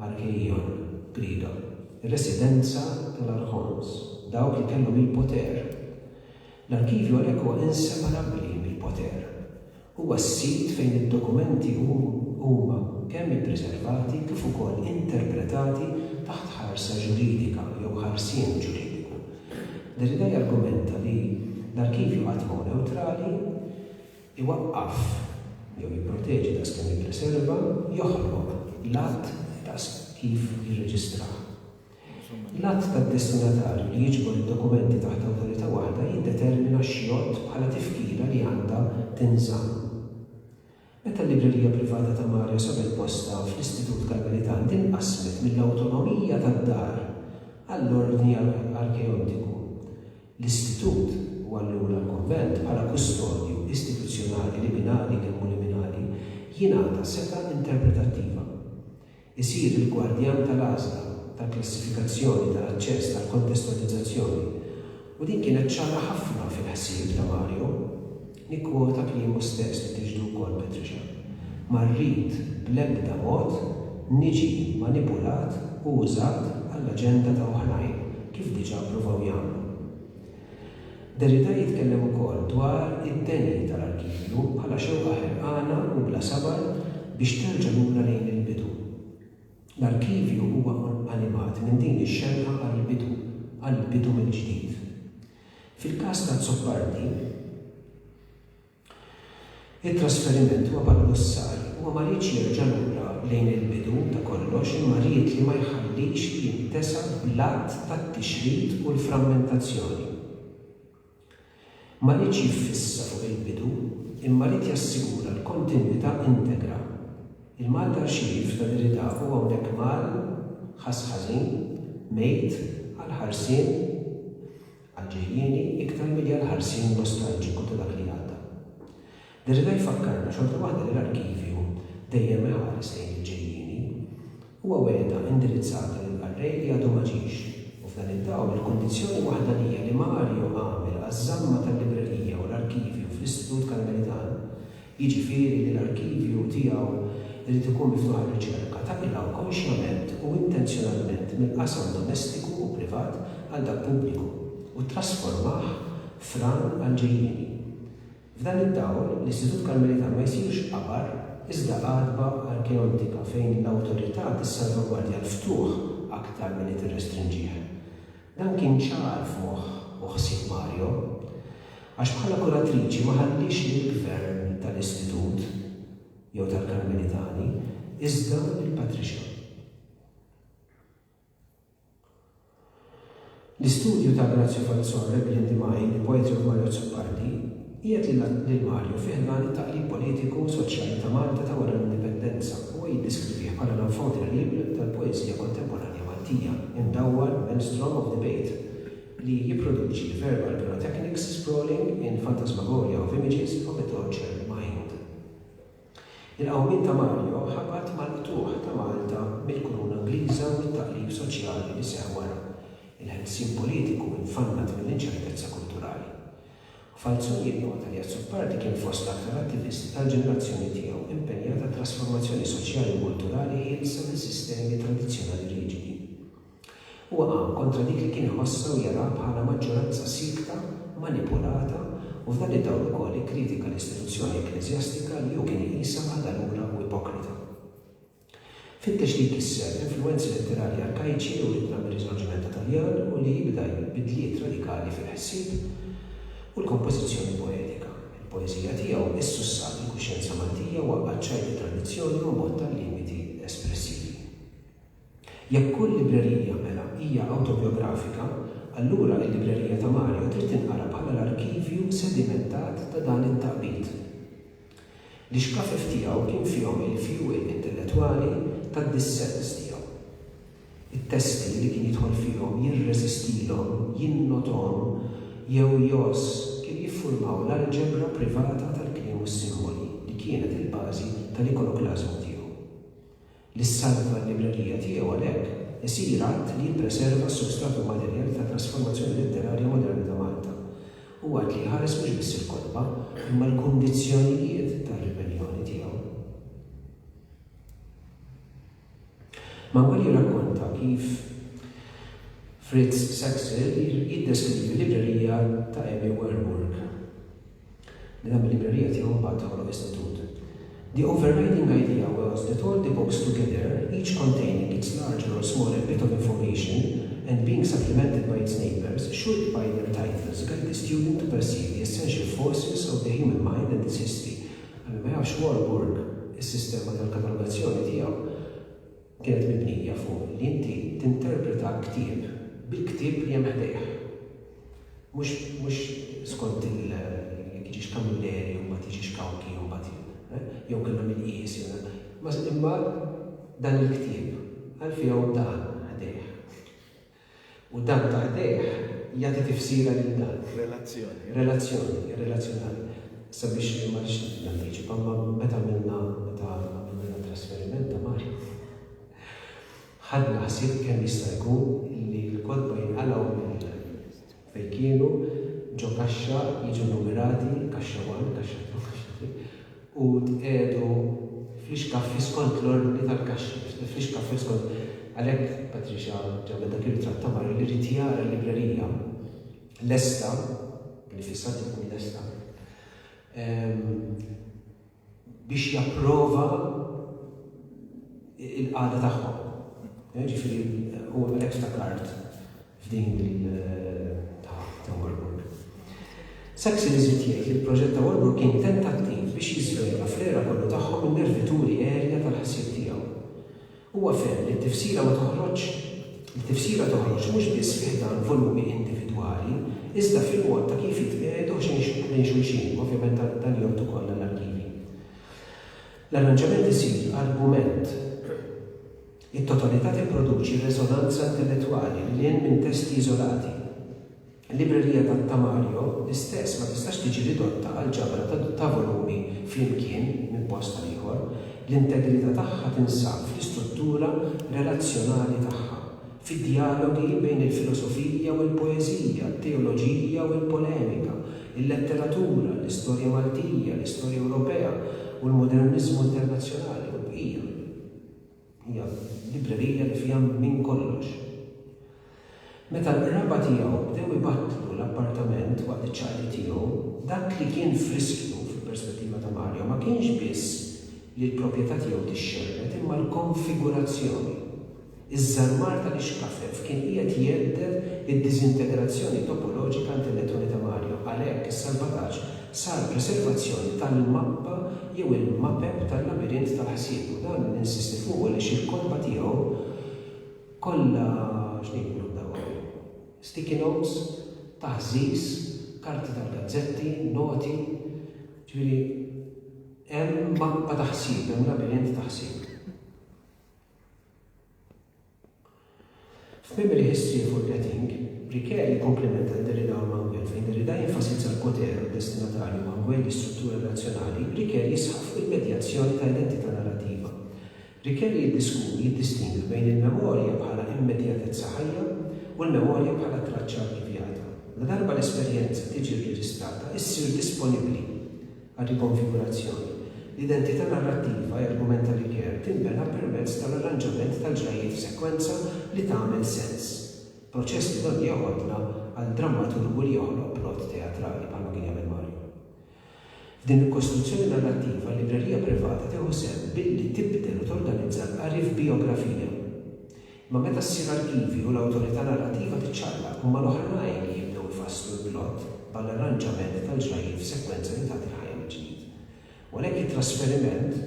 archeion, Griega, ir-residenza tal-archons, dawk li kellhom il-poter. L-arkivju għalhekk huwa inseparabbli mill-poter. Huwa s-sit fejn id-dokumenti huma kemm ippriservati kif ukoll interpretati taħt ħarsa ġuridika jew ħarsien ġuridiku. Derrida jargumenta li l-arkivju qatt ma hu newtrali, iwaqqaf jew jipproteġi daqskemm jippriserva, joħloq l-att daqs kif jirreġistrah. L-att tad-destinatarju li jiġbor id-dokumenti taħt awtorità waħda jiddetermina x'jgħodd bħala tifkira li għandha tinżamm. Meta l-Librerija Privata ta' Mario sabet postha fl-Istitut Karmelitan din qasmet mill-awtonomija tad-dar għall-Ordni Arkeontiku, l-Istitut, u allura l-Kunvent, bħala kustodju istituzzjonali liminali, kemm hu liminali, jingħata setgħa interpretattiva. Isir il-gwardjan tal-għażla tal-klassifikazzjoni ta' aċċess tal-kontestualizzazzjoni u din kienet ċara ħafna fil-ħsieb ta' Mario. Nikkwota kliemu stess li tixhdu wkoll Patricia, Ma rrid bl-ebda mod niġi manipulat u użat għall-aġenda ta' oħrajn kif diġà ppruvaw jagħmlu. Derrida jitkellem ukoll dwar id-deni tal-arkivju bħala xewqa ħerqana u bla sabar biex terġa' lura lejn il-bidu. L-arkivju huwa animat minn din ix-xewqa għall-bidu, għall-bidu mill-ġdid. Fil-każ t'Azzopardi, It-trasferiment huwa bħal hussar, huwa ma riedx jerġa' lura lejn il-bidu ta' kollox imma ried li ma jħallix li jintesa bl-għadd tat-tixrid u l-frammentazzjoni. Ma riedx jiffissa fuq il-bidu imma ried jassigura l-kontinwità integra. Il-Mal t'Arxiv ta' Derrida hu hawnhekk Mal ħass ħażin, mejt, għall-ħarsien għall-ġejjieni iktar milli għall-ħarsien nostalġiku ta' dak li għadda. Derrida jfakkarna xorta waħda li l-arkivju dejjem iħares lejn il-ġejjieni. Huwa wegħda indirizzata lill-qarrej li għadu ma ġiex. U f'dan id-dawl il-kundizzjoni waħdanija li Mario għamel għaż-żamma tal-librerija u l-arkivju fl-Istitut Karmelitan jiġifieri li l-arkivju tiegħu jrid ikun miftuħ għar-riċerka, taqilgħu konxjament u intenzjonalment mill-qasam domestiku u privat għal dak pubbliku u ttrasformah f'ran għall-ġejjieni. F'dan id-dawl, l-Istitut Karmelitan ma jsirx qabar iżda għatba arkeontika fejn l-awtorità tissalvagwardja l-ftuħ aktar milli tirrestrinġih. Dan kien ċar f'moħħ u ħsieb Mario, għax bħala kuratriċi ma ħalliex lill-gvern tal-Istitut jew tal-Karmelitani, iżda lill-Patricia. L-istudju ta' Grazio Falzon, Rebellion Demai, il-poetri u Mario Azzopardi, Qiegħed lil Mario fi ħdan it-taqlib politiku u soċjali ta' Malta ta' wara l-Indipendenza. Huwa jiddiskrivih bħala l-enfant terrible tal-poeżija kontemporanja Maltija, imdawwar b'maelstrom of debate li jipproduċi verbal pyrotechnics sprawling in phantasmagoria of images of a tortured mind. Il-qawmien ta' Mario ħabat mal-qtugħ ta' Malta mill-Kuruna Ingliża u t-taqlib soċjali li seħħ wara, il-ħelsien politiku infannat mill-inċertezza kulturali. Falzon jinnota li Azzopardi kien fost l-aktar attivisti tal-ġenerazzjoni tiegħu impenjat għat-trasformazzjoni soċjali u kulturali ħielsa minn sistemi tradizzjonali riġidi. Huwa qam kontra dik li kien iħossha u jaraha bħala maġġoranza siekta, manipulata, u f'dan id-dawl ukoll ikkritika l-istituzzjoni ekkleżjastika li hu kien iqisha għadalura u ipokrita. Fittex li jkisser l-influwenzi letterarji arkajċi li writna mir-Riżorġimenta Taljan u li jibda jgħid bidliet radikali fil-ħsieb u l-kompożizzjoni poetika. Il-poeżija tiegħu issussat il-kuxjenza Maltija, waqqgħet ċajt it-tradizzjoni u mbotta l-limiti espressivi. Jekk kull librerija, mela, hija awtobjografika, allura il-librerija ta' Mario trid tinqara bħala l-arkivju sedimentat ta' dan it-taqbid. L-ixkafif tiegħu kien fihom il-fjuwil intellettwali tad-dissens tiegħu. It-testi li kien jidħol fihom jirreżistilhom, jinnothom jew jgħożż kienu jiffurmaw l-alġebra privata tal-kliem u s-simboli li kienet il-bażi tal-ikoloklażmu tiegħu. li ssalva l-librerija tiegħu għalhekk isir att li jippreserva s-substrat immaterjali tat-trasformazzjoni letterarja moderna ta' Malta u att li jħares mhux biss il-kotba imma l-kundizzjonijiet tar-ribelljoni tiegħu. Manuel jirrakkonta kif Fritz Saxel jiddeskrivi l-librerija ta' Emmy Werburgh. Din hemm il-librerija tiegħu mbagħad toħloq istitut. The overriding idea was that all the books together, each containing its larger or smaller bit of information and being supplemented by its neighbours, should by their titles guide the student to perceive the essential forces of the human mind and its history. Għal min ma jafx Warburg, is-sistema tal-katalogazzjoni tiegħu, kienet mibnija fuq li inti tinterpreta ktieb bil-ktieb li hemm ħdejh. Mhux, mhux skont il, jekk jiġix Camilleri u mbagħad jiġix Cauchi u mbagħad jien, eh? jew kellha min tqies jew na, ma, imma dan il-ktieb, għal fih hawn dan ħdejh. U dan taħtih jagħti tifsira lil dan. Relazzjoni. Relazzjoni, irrelazzjonali. Sabiex, ma rridx nantiċipa, imma meta għamilna, meta għamilna dat-trasferiment ta' Mario fuq, ħadna ħsieb kemm jista' jkun li l-kotba jinqalgħu mill-ħin għall-jum. fejn kienu, ġo kaxxa, jiġu nnumerati, kaxxa one, kaxxa two, kaxxa three, u tqiegħdu fl-ixkaffi skont l-ordni tal-kaxxi, fl-ixkaffi skont, għalhekk Patricia ġabet dak ir-ritratt ta' Mario li ried jara l-librerija lesta, li fissat li tkun lesta, biex japprova l-qagħda tagħhom. Jiġifieri u għalhekk ftakart f'din ta' Warburg. Saxon iżid jgħid li l-proġett ta' Warburg kien tentattiv biex jiżvela fl-għera kollu tagħhom in-nervi turi erja tal-ħsieb tiegħu. Huwa fehem li t-tifsira ma toħroġx li tifsira toħroġ mhux biss fi ħdan volumi individwali, iżda fil-mod ta' kif jitqiegħdu ħdejn xulxin, ovvjament dan jgħodd ukoll għall-arkivi. L-arranġament isir argument. It-totalità tipproduċi reżonanza intellettwali lil hinn minn testi iżolati. Il-librerija ta' Ta' Mario l-istess ma tistax tiġi ridotta għal ġabra ta' volumi flimkien minn post għal ieħor, l-integrità tagħha tinsab fl-istruttura relazzjonali tagħha, fid-djalogi bejn il-filosofija u l-poeżija, t-teoloġija u l-polemika, il-letteratura, l-istorja Maltija, l-istorja Ewropea u l-moderniżmu internazzjonali u l-bqija. Hija librerija li fiha minn kollox. Meta l-qraba tiegħu bdew ibattlu l-appartament waqt iċ-ċaqliq tiegħu, dak li kien f'riskju, fil-perspettiva ta' Mario, ma kienx biss li l-proprjetà tiegħu tixxerred imma l-konfigurazzjoni. Iż-żarmar tal-ixkafef kien qiegħed jhedded id-diżintegrazzjoni topoloġika għand il-lettuni ta' Mario, għalhekk is-salvataġġ sal-preservazzjoni tal-mappa jew il-mapep tal-labirint tal-ħsieb u dan ninsisti fuqu għaliex il-kotba tiegħu kollha x'ngħidulhom dawn sticky notes, taħżiż, karti tal-gazzetti, noti, ġifieri hemm mappa ta' ħsieb, hemm labirint ta' ħsieb. F'Tmiem il-Histrija Forgetting, Riquet jikkomplimenta lil Derrida u Manguel. Fejn Derrida jenfasizza l-poter u d-destinatarju u Manguel l-istruttura rrazzjonali, Riquet jisħaq fuq il-medjazzjoni ta' identità narrativa. Riquet jiddiskuti, jiddistingwi bejn il-memorja bħala immedjatezza ħajja u l-memorja bħala traċċa arkivjata. Ladarba l-esperjenza tiġi rreġistrata, issir disponibbli. għar-rikonfigurazzjoni. L-identità narrattiva, jargumenta Ricoeur, tinbena permezz tal-arranġament tal-ġrajjiet f'sekwenza li tagħmel sens, proċess li donnu joqgħodna għal drammaturgu li joħloq plot teatrali, bħalma kien jagħmel Mario. F'din il-kostruzzjoni narrattiva, l-librerija privata tieħu sehem billi tibdel u torganizza l-qari f'bijografija. Ma meta ssir arkivi u l-awtorità narrattiva tiċċaqlaq huma l-oħrajn li jibdew ifasslu l-plott bħall-arranġament tal-ġrajjiet f'sekwenza li tagħti l-ħajja mill-ġdid. U għalhekk it-trasferiment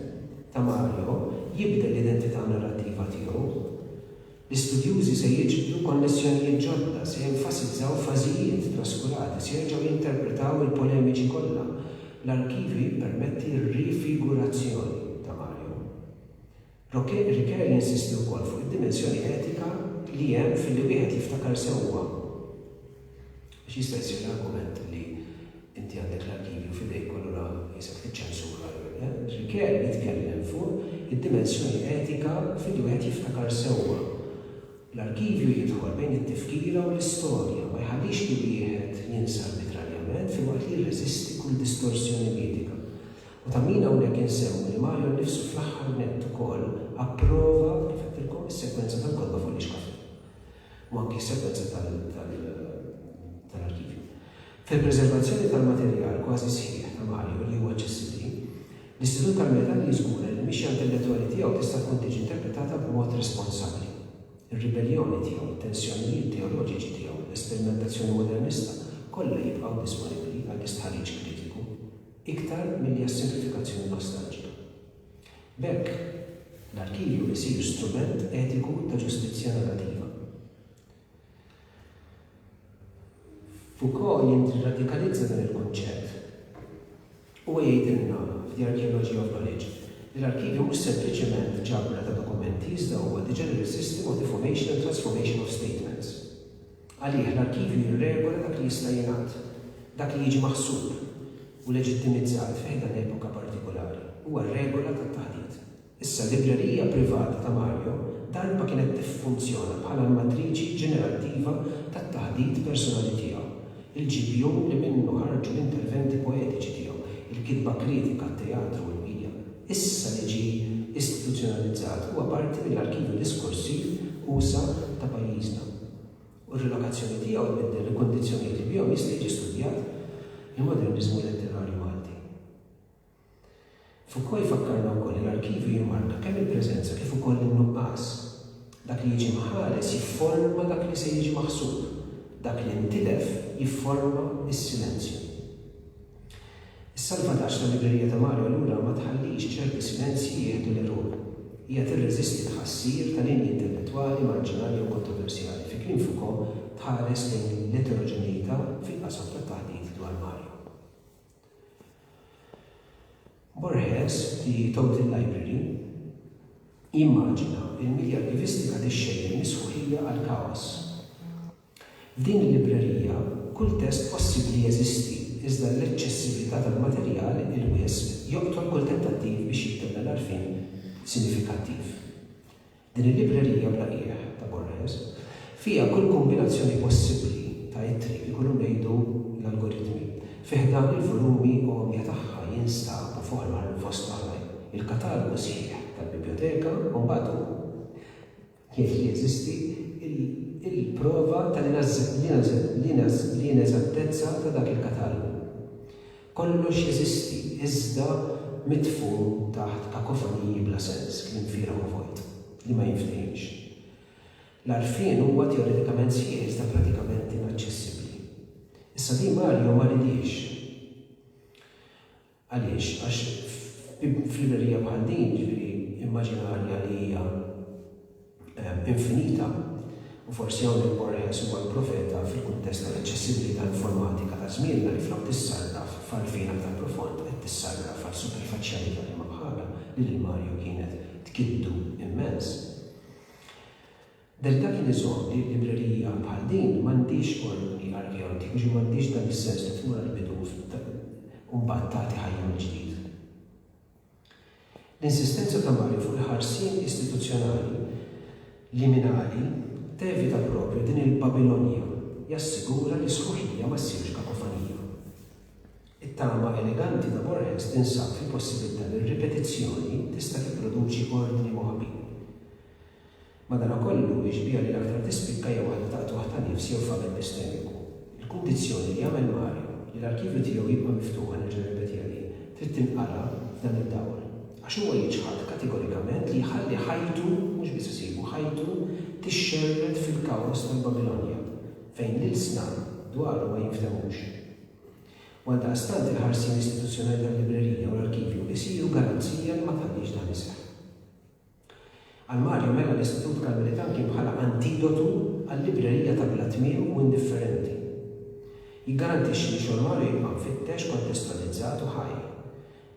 ta' Mario jibdel l-identità narrattiva tiegħu. L-istudjużi se jiġbdu konnessjonijiet ġodda, se jenfasizzaw fażijiet traskurati, se jerġgħu jinterpretaw il-polemiċi kollha. L-arkivju jippermetti r-rifigurazzjoni ta' Mario. Ricoeur jinsisti wkoll fuq id-dimensjoni etika li hemm filli wieħed jiftakar sewwa biex jista' jsir l-argument li inti għandek l-arkivju f'idejk u allura qisek tiċċensura jew le. Ricoeur jitkellem fuq id-dimensjoni etika filli wieħed jiftakar sewwa. L-arkivju jidħol bejn it-tifkira u l-istorja, ma jħallix li wieħed jinsa arbitrarjament filwaqt li jirreżisti kull distorsjoni mitika. U ta' min hawnhekk insemmu li Mario nnifsu fl-aħħar nett ukoll approva, kif għedtilkom, is-sekwenza tal-kotba fuq l-ixkaffi. U anki s-sekwenza tal-arkivju. Fil-preservazzjoni tal-materjal kważi sħiħ ta' Mario li hu aċċessibbli, l-Istitut tal-Metalli jiżgura li l-mixja intellettwali tiegħu tista' tkun tiġi interpretata b'mod responsabbli. Ir-ribelljoni tiegħu, it-tensjonijiet teoloġiċi tiegħu, l-esperimentazzjoni modernista, kollha jibqgħu disponibbli għall-istħarriġ kritiku. iktar milli għas-simplifikazzjoni nostalġika. B'hekk, l-arkivju jsir strument etiku ta' ġustizzja narrativa. Foucault jirradikalizza dan il-kunċett. Huwa jgħidilna f'The Archaeology of Knowledge li l-arkivju mhux sempliċement ġabra ta' dokumenti iżda huwa the general system of the formation and transformation of statements. Għalih, l-arkivju jirregola dak li jista' jingħad, dak li jiġi maħsub u leġittimizzat fi ħdan epoka partikolari. Huwa r-regola tat-taħdit. Issa, l-librerija privata ta' Mario darba kienet tiffunzjona bħala l-matriċi ġenerattiva tat-taħdit personali tiegħu, il-ġibjun li minnu ħarġu l-interventi poetiċi tiegħu, il-kitba kritika, t-teatru u l-bqija. Issa li ġie istituzzjonalizzat, huwa parti mill-arkivju diskorsiv usa' ta' pajjiżna. u r-rilokazzjoni tiegħu jbiddel il-kundizzjonijiet li bihom jista' jiġi studjat il-moderniżmu letterarju Malti. Foucault jfakkarna wkoll li l-arkivju jimmarka kemm il-preżenza kif ukoll in-nuqqas. Dak li jiġi mħares jifforma dak li se jiġi maħsub, dak li ntilef jifforma s-silenzju. Is-salvataġġ tal-librerija ta' Mario allura ma tħallix ċerti silenzji jieħdu l-għeruq. Hija tirreżisti l-ħassir ta' linji intellettwali marġinali jew kontroversjali, fi kliem Foucault tħares lejn l-eteroġeneità fil-qasam tat-taħdit dwar Mario. Borges, The Total Library, jimmaġina l-medja arkivistika tixxejjen mis-sħuħija għall-kaos. F'din il-librerija, kull test possibbli jeżisti, iżda l-eċċessività tal-materjal il-wisq joqtol kull tentattiv biex jittenna l-għarfien sinifikattiv. Din il-librerija bla qiegħ, ta' Borges, fiha kull kombinazzjoni possibbli ta' ittri, ikunu ngħidu l-algoritmi. Fi ħdan il-volumi għomja tagħha jinstab, fost oħrajn, il-katalogu sħiħ tal-bibljoteka u mbagħad hu. kif teżisti l-prova tal-ineżattezza ta' dak il-katalogu. Kollox jeżisti iżda midfun taħt kakofoniji bla sens, kliem fieragħ u vojt, li ma jinftehimx. L-għarfien huwa teoretikament sħiħ iżda pratikament inaċċessibbli. Issa Di Mario ma ridiex. Għaliex? Għax f'librerija bħal din, jiġifieri immaġinarja li hija infinita, u forsi hawnhekk Borges huwa l-profeta fil-kuntest tal-aċċessibilità informatika ta' żmienna li flok tissarraf f'għarfien aktar profond qed tissarraf għal superfaċjalità li ma bħalha li lil Mario kienet tkiddu immens. Del dak li jżomm li librerija bħal din m'għandhiex ordni arkeoloġiku, ġifieri m'għandhiex dan is-sens ta' tmur għall-bidu u mbagħad tagħti ħajja mill-ġdid. L-insistenza ta' Mario fuq il-ħarsien istituzzjonali liminali tevita proprju din il-Babilonja, jassigura li sħuħija ma ssirx kakofonija. It-tama eleganti ta' Borges tinsab fil-possibbiltà li r-ripetizzjoni tista' tipproduċi ordni moħbi. Madanakollu, ix-xbieha li l-aktar tispikka hija waħda ta' qtugħ ta' nifs jew faqar epistemiku. Il-kundizzjoni li jagħmel Mario li l-arkivju tiegħu jibqa' miftuħ, nerġa' nirrepetiha din, trid tinqara f'dan id-dawl. Għax huwa jiċħad kategorikament li jħalli ħajtu, mhux biss ħsiebu, ħajtu tixxerred fil-kaos tal-Babilonja, fejn l-ilsna dwaru ma jinftemux. U għaldaqstant il-ħarsien istituzzjonali tal-librerija u l-arkivju jsiru garanzija li ma tħallix dan iseħħ. Għal Mario Mela l-Istitut Karmelitan kien bħala antidotu għal librerija ta' bla tmiem u indifferenti. Jiggarantixxi li xogħol Mario jibqa' mfittex, kontestualizzat u ħaj.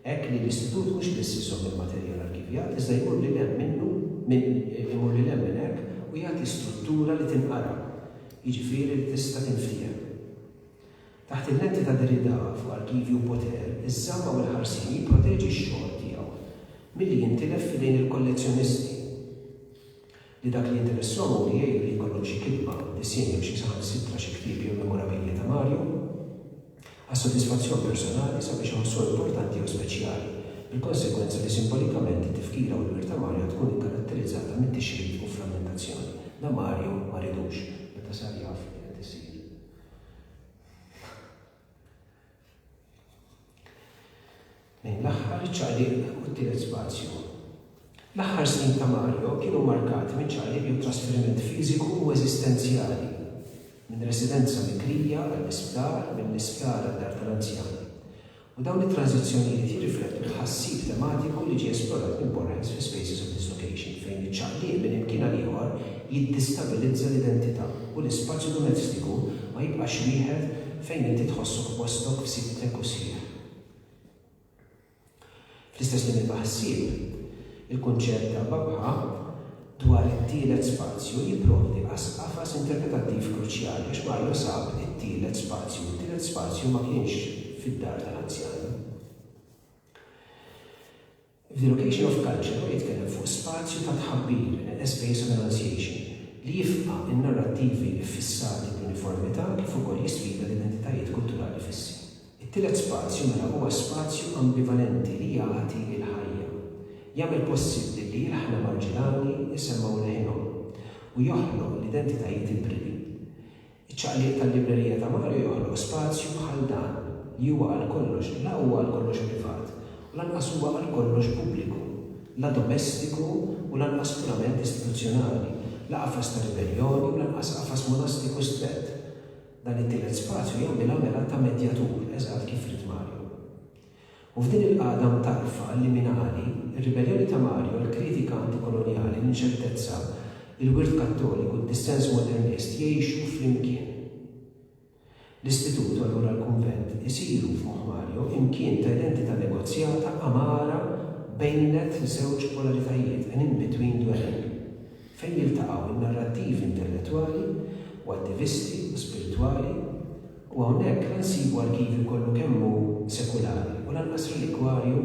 Hekk li l-Istitut mhux biss iżomm il-materjal arkivjat iżda jmur lil hemm minnu minn imur lil hemm minn hekk u jagħti struttura li tinqara, jiġifieri li tista' tinftiehem. Taħt il-lenti ta' Derrida fuq Arkivju Potter, iż-żamma u l-ħarsien jipproteġi x-xogħol tiegħu milli jintilef f'idejn il-kollezzjonisti li dak li jinteressahom hu li jgħidu li jkollhom xi kitba, disinn jew xi saħansitra xi ktieb jew memorabilia ta' Mario għas-sodisfazzjon personali sabiex iħossuha importanti jew speċjali, bil-konsegwenza li simbolikament it-tifkira u l-wirt ta' Mario tkun ikkaratterizzata mit-tixrid u frammentazzjoni. La Mario ma ridux, meta sar jaf li qed isir Lejn l-aħħar iċ-ċaqliq u t-tielet spazju. L-aħħar snin ta' Mario kienu mmarkati minn ċaqliq jew trasferiment fiżiku u eżistenzjali, minn residenza bikrija għall-isptar, mill-isptar għad-dar tal-anzjani. u dawn it-tranżizzjonijiet jirriflettu t-tħassib tematiku li ġie esplorat minn Borrens fi Spaces of Dislocation, fejn iċ-ċaqliq minn imkien għal ieħor jiddistabilizza l-identità u l-ispazju domestiku ma jibqax wieħed fejn inti tħossok postok b'sidtek u sħiħ. Fl-istess linja ta' ħsieb, il-kunċett ta' Babha dwar it-tielet spazju jipprovdi qas qafas interpretattiv kruċjali għax Mario sab it-tielet spazju u t-tielet spazju ma kienx fid-dar tal-anzjani. The Location of Culture huwa jitkellem fuq spazju ta' tħabbir, a space of enunciation, li jifqa' n-narrattivi ffissati bl-uniformità kif ukoll jisfida l-identitajiet kulturali fissi. It-tielet spazju mela huwa spazju ambivalenti li jagħti l-ħajja, jagħmel possibbli li ilħna Marġilani jsemmgħu leħinhom, u joħloq l-identitajiet ibridi. Iċ-ċaqliq tal-librerija ta' Mario joħloq spazju bħal dan, li huwa għal kollox, la huwa għal kollox privat, u lanqas huwa għal kollox pubbliku, la domestiku u lanqas purament istituzzjonali, la qafas ta' ribelljoni u lanqas qafas monastiku strett, Dan it-tielet spazju jagħmilha mela ta' medjatur, eżatt kif ried Mario. U f'din il-qagħda mtarrfa, liminali, ir-ribelljoni ta' Mario, l-kritika antikolonjali, l-inċertezza, il-wirt Kattoliku, d-dissens modernist jgħixu flimkien. L-istitut, u allura l-kunvent, isiru, f'moħħ Mario, imkien ta' identità negozjata, għamara, bejnet żewġ polaritajiet, an in-between dwelling. fejn jiltaqgħu n-narrattivi intellettwali u attivisti u spiritwali, u hawnhekk la nsibu arkivju kollu kemm hu sekulari u lanqas relikwarju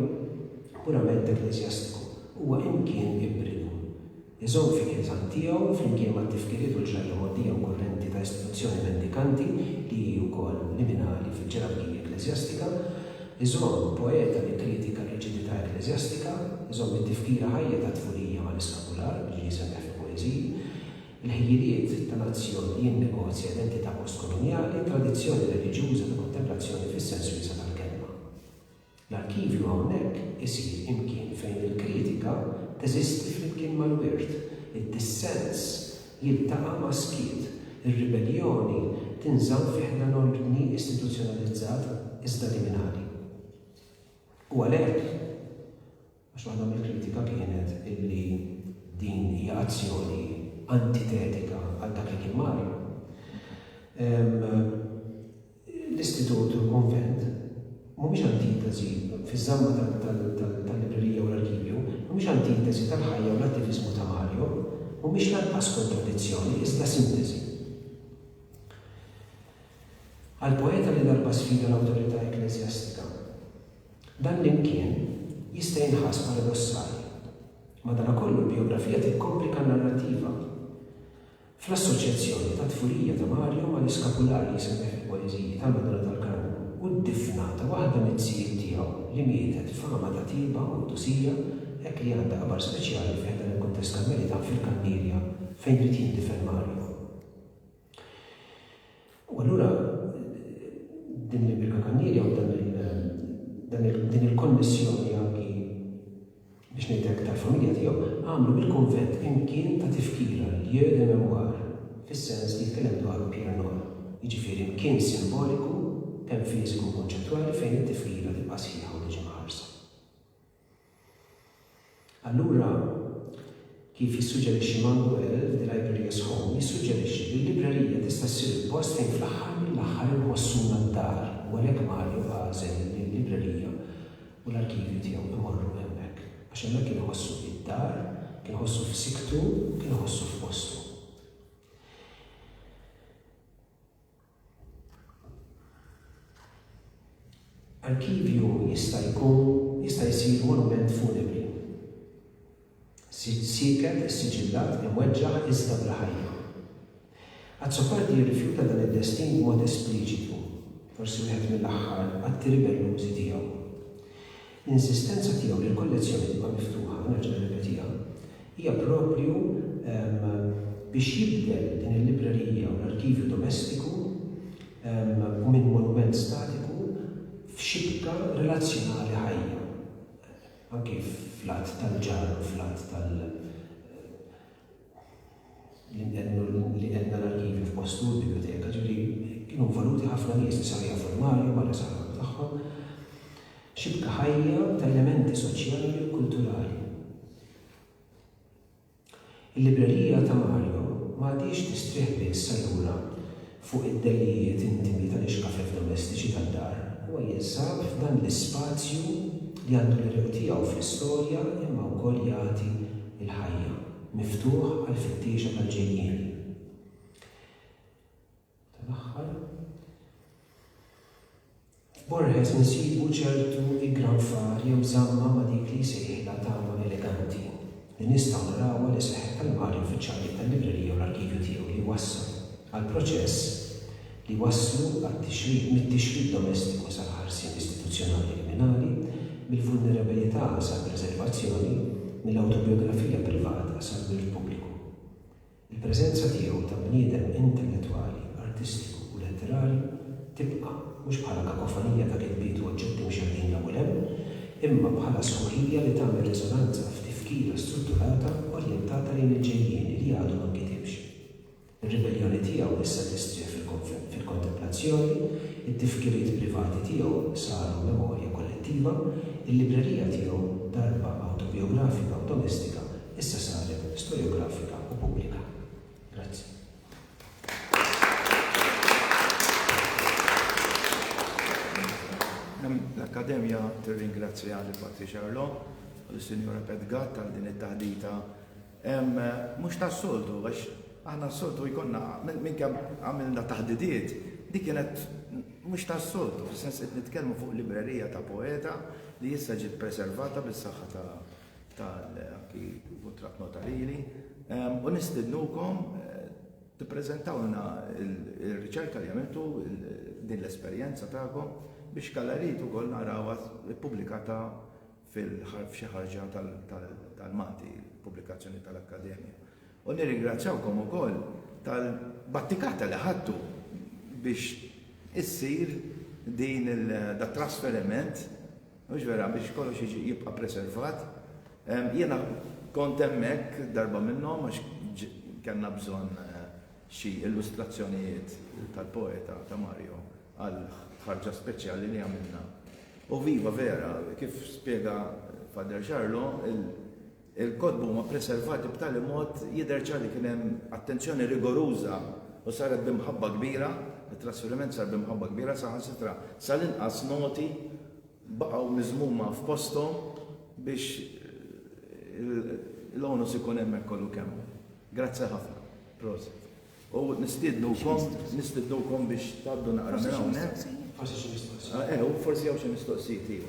purament ekkleżjastiku. Huwa imkien ibridu. Iżomm fi kieżan tiegħu, flimkien mat-tifkiriet u l-ġrajja mogħdija u kurrenti ta' istituzzjoni mendikanti li hi wkoll liminali fil-ġerarkija ekkleżjastika, Iżomm poeta li kkritika r-riġidità ekkleżjastika, iżomm it-tifkira ħajja tat-tfulija mal-iskapular li ġie semmiegħ fil-poeżiji, il-ħjiliet ta' nazzjon li jinnegozja identità postkolonjali, tradizzjoni reliġjuża ta' kontemplazzjoni fis-sens wiesa' tal-kelma. L-arkivju hawnhekk isir imkien fejn il-kritika teżisti flimkien mal-wirt, id-dissens jiltaqa' ma' skiet, ir-ribelljoni tinżamm fi ħdan ordni istituzzjonalizzat iżda liminali. U għalhekk, għax waħda mill-kritika kienet illi din hija azzjoni antitetika għal dak li kien Mario, L-Istitut u l-Kunvent mhumiex antitesi fiż-żamma tal-librerija u l-arkivju, mhumiex antitesi tal-ħajja u l-attiviżmu ta' Mario, mhumiex lanqas kontradizzjoni, iżda sintesi. Għall-poeta li darba sfida l-awtorità ekkleżjastika, dan l-imkien jista' jinħass paradossali. Madankollu, l-bijografija tikkomplika n-narrattiva. Fl-assoċjazzjoni tat-tfulija ta' Mario mal-iskapular li jsemmih fil-poeżiji tal-Madonna tal-Karmnu u d-difna ta' waħda miz-zijiet tiegħu li mietet f'għama ta' tjieba u qdusija hekk li għandha qabar speċjali fi ħdan il-kuntest Karmelitan fil-Kannirja fejn ried jindifen Mario. U allura din l-impjega kannieri jew dan il- dan il- din il-konnessjoni anki biex ngħid hekk tal-familja tiegħu għamlu mill-kunvent imkien ta' tifkira, lieu de mémoire, fis-sens li jitkellem dwaru Pierre Nora. Jiġifieri mkien simboliku, kemm fiżiku u konċettwali fejn it-tifkira tibqa' sħiħa u tiġi mħarsa. Allura, kif jissuġġerixxi Manguel, The Libraria's Home jissuġġerixxi li l-librerija tista' ssir il-post fejn fl-aħħar mill-aħħar inħossuna d-dar u għalhekk Mario għażel li l-librerija u l-arkivju tiegħu imorru hemmhekk għax hemmhekk kien iħossu id-dar, kien iħossu f'siktu u kien iħossu f'postu. Arkivju jista' jkun jista' jsir monument funebri. Siġġ sieket, issiġillat, imweġġaħ iżda bil-ħajja. Azzopardi jirrifjuta dan id-destin b'mod espliċitu, forsi wieħed mill-aħħar atti ribellużi tiegħu. L-insistenza tiegħu li l-kollezzjoni tibqa' miftuħa, nerġa' nirrepetiha, hija proprju biex jibdel din il-librerija u l-arkivju domestiku u minn monument statiku f'xibka relazzjonali ħajja, anki fl-għadd tal-ġar u fl-għadd tal. li qed nara l-arkivi f'postu, il-biblioteka, ġifieri kienu involuti ħafna nies li saru jafu l-Malja barra sal-ħolm tagħhom. Xibka ħajja ta' elementi soċjali u kulturali. Il-librerija ta' Mario ma għadhiex tistrieħ biss allura fuq id-delijiet intimi tal-ixkafef domestiċi tad-dar, huwa jinsab f'dan l-ispazju li għandu l-għeruq tiegħu fl-istorja imma wkoll jagħti l-ħajja, miftuħ għall-fittiexa tal-ġejjieni. F'Borges nsibu ċertu iggranfar jew żamma ma' dik li jsejħilha tama eleganti, li nistgħu narawha li seħħet għal Mario fiċ-ċaqliq tal-librerija u l-arkivju tiegħu li jwassal għal proċess li wasslu għat-tixrid, mit-tixrid domestiku sal-ħarsien istituzzjonali kriminali, mill-vulnerabilità sal-preservazzjoni, mill-awtobijografija privata sal-wirt pubbliku. Il-preżenza tiegħu ta' bniedem intellettwali, artistiku u letterarju tibqa', mhux bħala kakofonija ta' kitbiet u oġġetti mxerrdin 'l hawn u 'l hemm, imma bħala sħuħija li tagħmel riżonanza f'tifkira strutturata orjentata lejn il-ġejjieni li għadu ma nkitibx. Ir-ribelljoni tiegħu issa tistrieħ fil-kontemplazzjoni, it-tifkiriet privati tiegħu saru memorja kollettiva, il-librerija tiegħu darba awtobijografika u domestika Issa saret storjografika u pubblika. Grazzi. L-Akkademja tirringrazzja li Patri Xarlo u l-Sinjura Petgat tal din it-taħdita. Mhux tas-soltu għax aħna s-soltu jkollna minn kemm għamilna taħdidiet dik kienet mhux tas-soltu, fis-sens qed nitkellmu fuq librerija ta' poeta li issa ġiet preservata bis-saħħa ta' tal-akki votrat notarili u nistidnukom tippreżentawna il-riċerka li għamiltu din l-esperjenza tagħkom biex kallarit ukoll narawha ppubblikata f'xi ħarġa tal-Malti, pubblikazzjoni tal-Akkademja. U nirringrazzjawkom ukoll tal-battikata li ħadtu biex issir din il-trasferiment Mhux vera, biex kollox jiġi jibqa' preservat. Jiena kont hemmhekk darba minnhom għax kellna bżonn xi illustrazzjonijiet tal-poeta ta' Mario għal ħarġa speċjali li għamilna. U viva vera, kif spjega Father Xarlo, il, Il-kotba huma preservati b'tali mod jidher ċar li kien hemm attenzjoni rigoruża u saret bi mħabba kbira, it-trasferiment sar bi mħabba kbira, saħansitra sal-inqas noti baqgħu miżmuma f'posthom biex l-onus ikun hemmhekk kollu kemm hu. Grazzi ħafna. Prosit. U nistiednukom, nistiednukom biex tgħaddu naqra minn hawnhekk. Forsi xi mistoqsijiet. Eh, u forsi hawn xi mistoqsijiet, iva.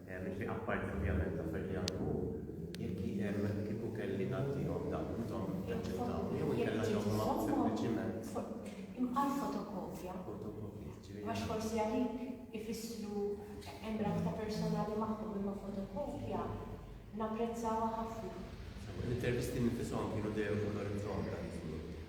Jiġifieri apparti ovvjament l-affarijiet li għamlu hu, jekk jien kieku kelli ngħaddihom dawn intom taċċettawhom jew inkella tagħtuhom sempliċiment. Għal fotokopja. Fotokopja, ġifieri. Għax forsi għalik ifissru hemm rabta personali magħhom imma fotokopja napprezzawha ħafna. L-intervisti nifisom kienu dejjem fuq l-orizzont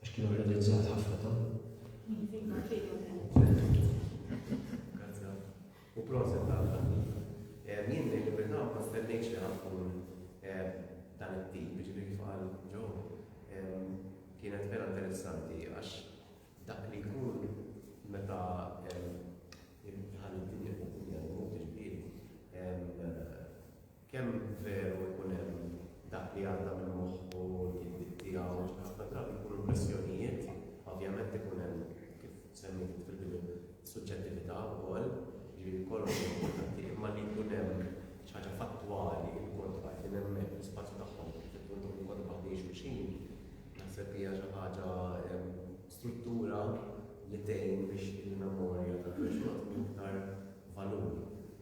Għax kienu rrealizzat ħafna ta'. U proset ta' Jien li libertà ma stennejx li ħankun dan it-tip, ġifieri kif qal ġo, kienet vera interessanti għax dak li jkun meta ħalli d-dinja tkun dinja l-mod ġifieri Kemm veru jkun hemm dak li għadda minn moħħu, l-gidbiet tiegħu, ħafna drabi jkunu impressjonijiet, ovvjament ikun hemm, kif semmejt int fil-bidu, suġġettività wkoll, jiġifieri kollox hu importanti, imma li jkun hemm xi ħaġa fattwali, il-kont qegħdin hemmhekk, l-ispazju tagħhom, kif qed ngħidulkom il-kont qegħdin waħdejn xulxin, naħseb hija xi ħaġa struttura li tgħin biex il-memorja tal-persuna tkun iktar valur.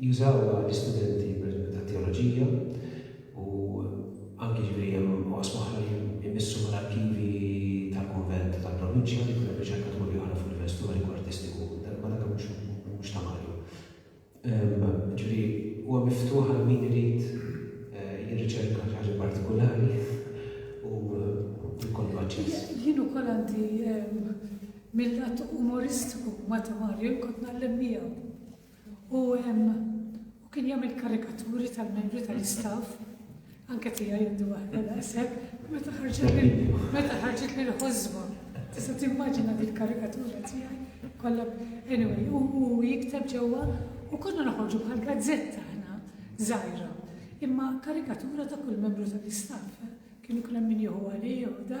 Jużawha l-istudenti pereżempju tat-teoloġija u anki jiġifieri hemm oqsma oħra li jmissu mal-arkivi tal-kunvent u tal-provinċja li jkun hemm riċerkaturi oħra fuq livell storiku, artistiku, ma dak mhux mhux ta' Mario. Jiġifieri huwa miftuħ għal min irid jirriċerka xi ħaġa partikulari u jkollu aċċess. Jien ukoll għandi mill-lat umoristiku ma' ta' Mario jien kont ngħallem miegħu. U u kien jagħmel karikaturi tal-membri tal-istaff anke tiegħi għandu waħda daqshekk, meta ħarġet meta ħarġet lil ħożba. Tista' timmaġina din karikatura tiegħi kollha anyway, u jikteb ġewwa u konna noħorġu bħal gazzetta ħna żgħira. Imma karikatura ta' kull membru tal-istaff, eh? kienu kull min jieħu għalih u da,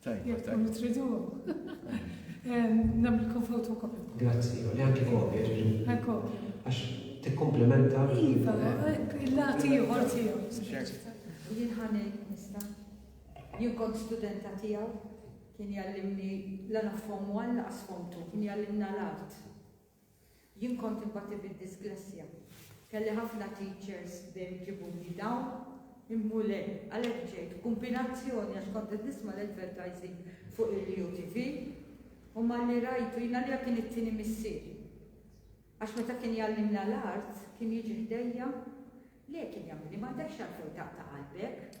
Tajba, tajba. Tridu. Namilkom fotokopja. Grazzi, li anki kopja ġiġu. Kopja. Għax tikkomplementa. Iva, il-lati ieħor tiegħu. Jien ħani nista. Jien kont studenta tiegħu kien jallimni l-għana fom 1 laqas fom 2, kien jallimna l-art. Jien kont inbati bid-disglessja. Kelli ħafna teachers dejjem iġibuli dawn, immu le, għalhekk ġejt, b'kumbinazzjoni għax kont qed nisma' l-advertising fuq il-Rio TV, u malli rajtu, jien għalija kien it-tieni missier. Għax meta kien jgħallimna l-art, kien jiġi ħdejja, le kien jagħmilli m'għandekx għalfejn taqta' qalbek,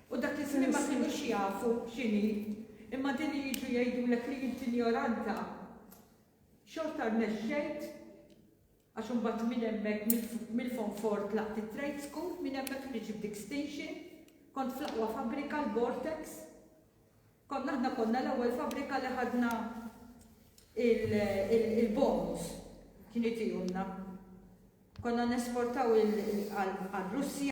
U dak iż-żmien ma kinux jafu x'inhi, imma din li jiġu jgħidulek li int injoranta, xorta rnexxejt għax imbagħad minn hemmhekk mill-Fonfort tlaqt it-Trade School, minn hemmhekk ħriġt b'Dixtinction, kont fl-aqwa fabbrika l-Vortex. Konna aħna konna l-ewwel fabbrika li ħadna il-bonds kien itihomna. Konna nesportaw għal Russja.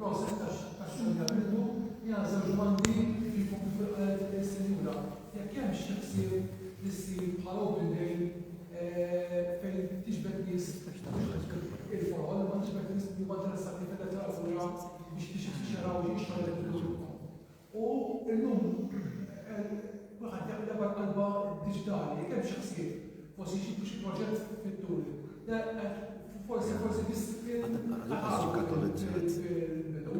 proċess ta' xogħol li għamiltu li għal żewġ bandi kif jkun kif qalet is-sinjura. Jekk hemm xi ħsieb li ssir bħal open day eh, fejn tiġbed nies il-foħol, ma tiġbed nies li ma interessati fil-letteratura biex tixxeraw jixxaraw il-kultura. U llum kulħadd jaf li mal-qalba diġitali jekk hemm xi ħsieb, forsi jġibu xi proġett fit-tul. Forsi forsi biss fil-bidu.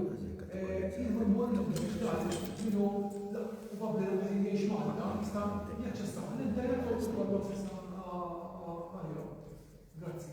Jieħu l-mond diġitali minnu probabbli li qegħdin jgħix Malta jista' jaċċessa l-internet u jkollu aċċess għalihom. Grazzi.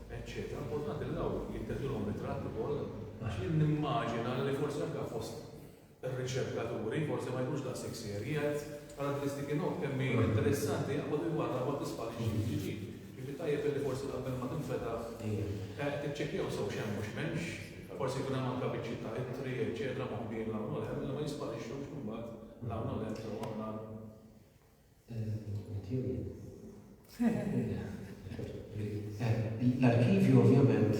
eċċetera Importanti li dawn jitteħdulhom ritratt ukoll għax jien nimmaġina li forsi anke fost ir-riċerkaturi forsi ma jkunx daqshekk serji għad karatteristiki nov kemm hi interessanti jaqbad il-warra ma tisparixxi jiġi. Jiġi tajjeb li forsi qabel ma tinfeta eh, tiċċekkjaw sew x'hemm u x'mhemmx, forsi jkun hemm anke biċċi ta' ittri, eċċetera, moħbin l-hawn u l-hemm li ma jisparixxux imbagħad l-hawn u l-hemm sew aħna L-arkivju ovvjament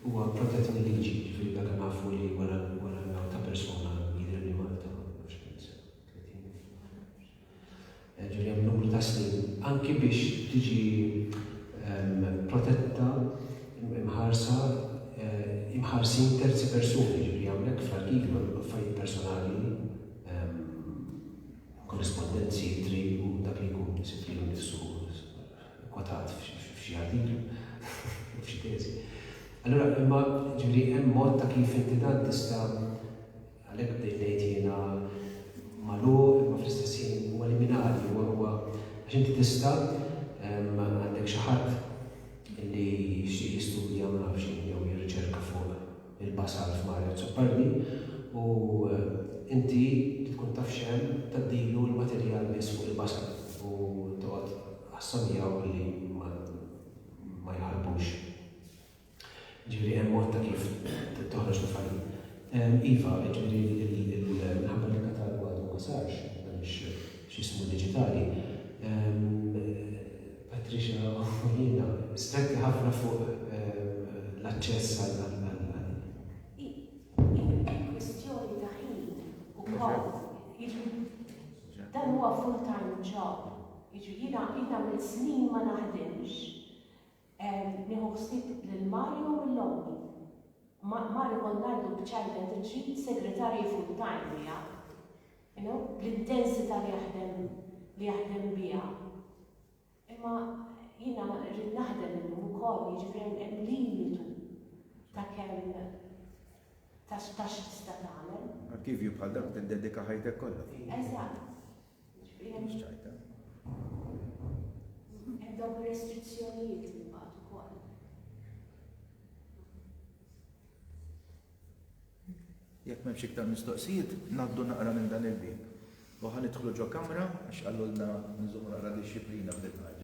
huwa protett mill-liġi, ġifieri meta nafu li wara l-mewt ta' persuna jidher li Malta ġifieri hemm numru ta' snin anki biex tiġi ehm, protetta imħarsa eh, imħarsin terzi persuni, ġifieri hawnhekk fl-arkivju affarijiet personali ehm, korrispondenti se jittri u dak li jkun isibt lilu nnifsu kkwotat f'xi artiklu, jew f'xi teżi. Allura, imma, ġifieri, hemm mod ta' kif inti dan tista', għalhekk bdejt ngħid jiena, magħluq imma fl-istess ħin huwa liminali, huwa, huwa, għax inti tista', għandek xi ħadd li jixtieq jistudja ma nafx x'inhi jew jirriċerka fuq, il-basal f'Mario Zuppalli u inti li tkun taf x'hemm tgħaddilu l-materjal biss fuq il-basal u toqgħod ħassa miegħu billi ma jħarbux. Ġifieri hemm mod ta' kif toħroġ mill-fallit. Iva, ġifieri minħabba li l-katalgu għadu ma sarx, m'hemmx x'ismu diġitali, Patricia Aquilina, stretti ħafna fuq l-aċċess għall-ilma. Hi kwistjoni ta' ħin ukoll. Jiġifieri dan huwa full time job. Jiġifieri jiena jien għamilt snin ma naħdimx. Nieħu ħsieb lil Mario u lil ommi. Mario kont ngħidlu b'ċajta inti trid segretarji full time miegħek. You know, bl-intensità li jaħdem li jaħdem biha. Imma jiena rrid naħdem illum ukoll, jiġifieri hemm limitu ta' kemm ta' xi tista' tagħmel. Arkivju bħal dan tiddedika ħajtek kollha fuq. Eżatt. Mhux ċajta. Hemm dawk ir-restrizzjonijiet imbagħad ukoll. Jekk m'hemmx iktar mistoqsijiet, ngħaddu naqra minn dan il-bieb. U ħa nidħlu ġo kamra, għax qalulna nżommu naqra dixxiplina f'din il-ħaġa.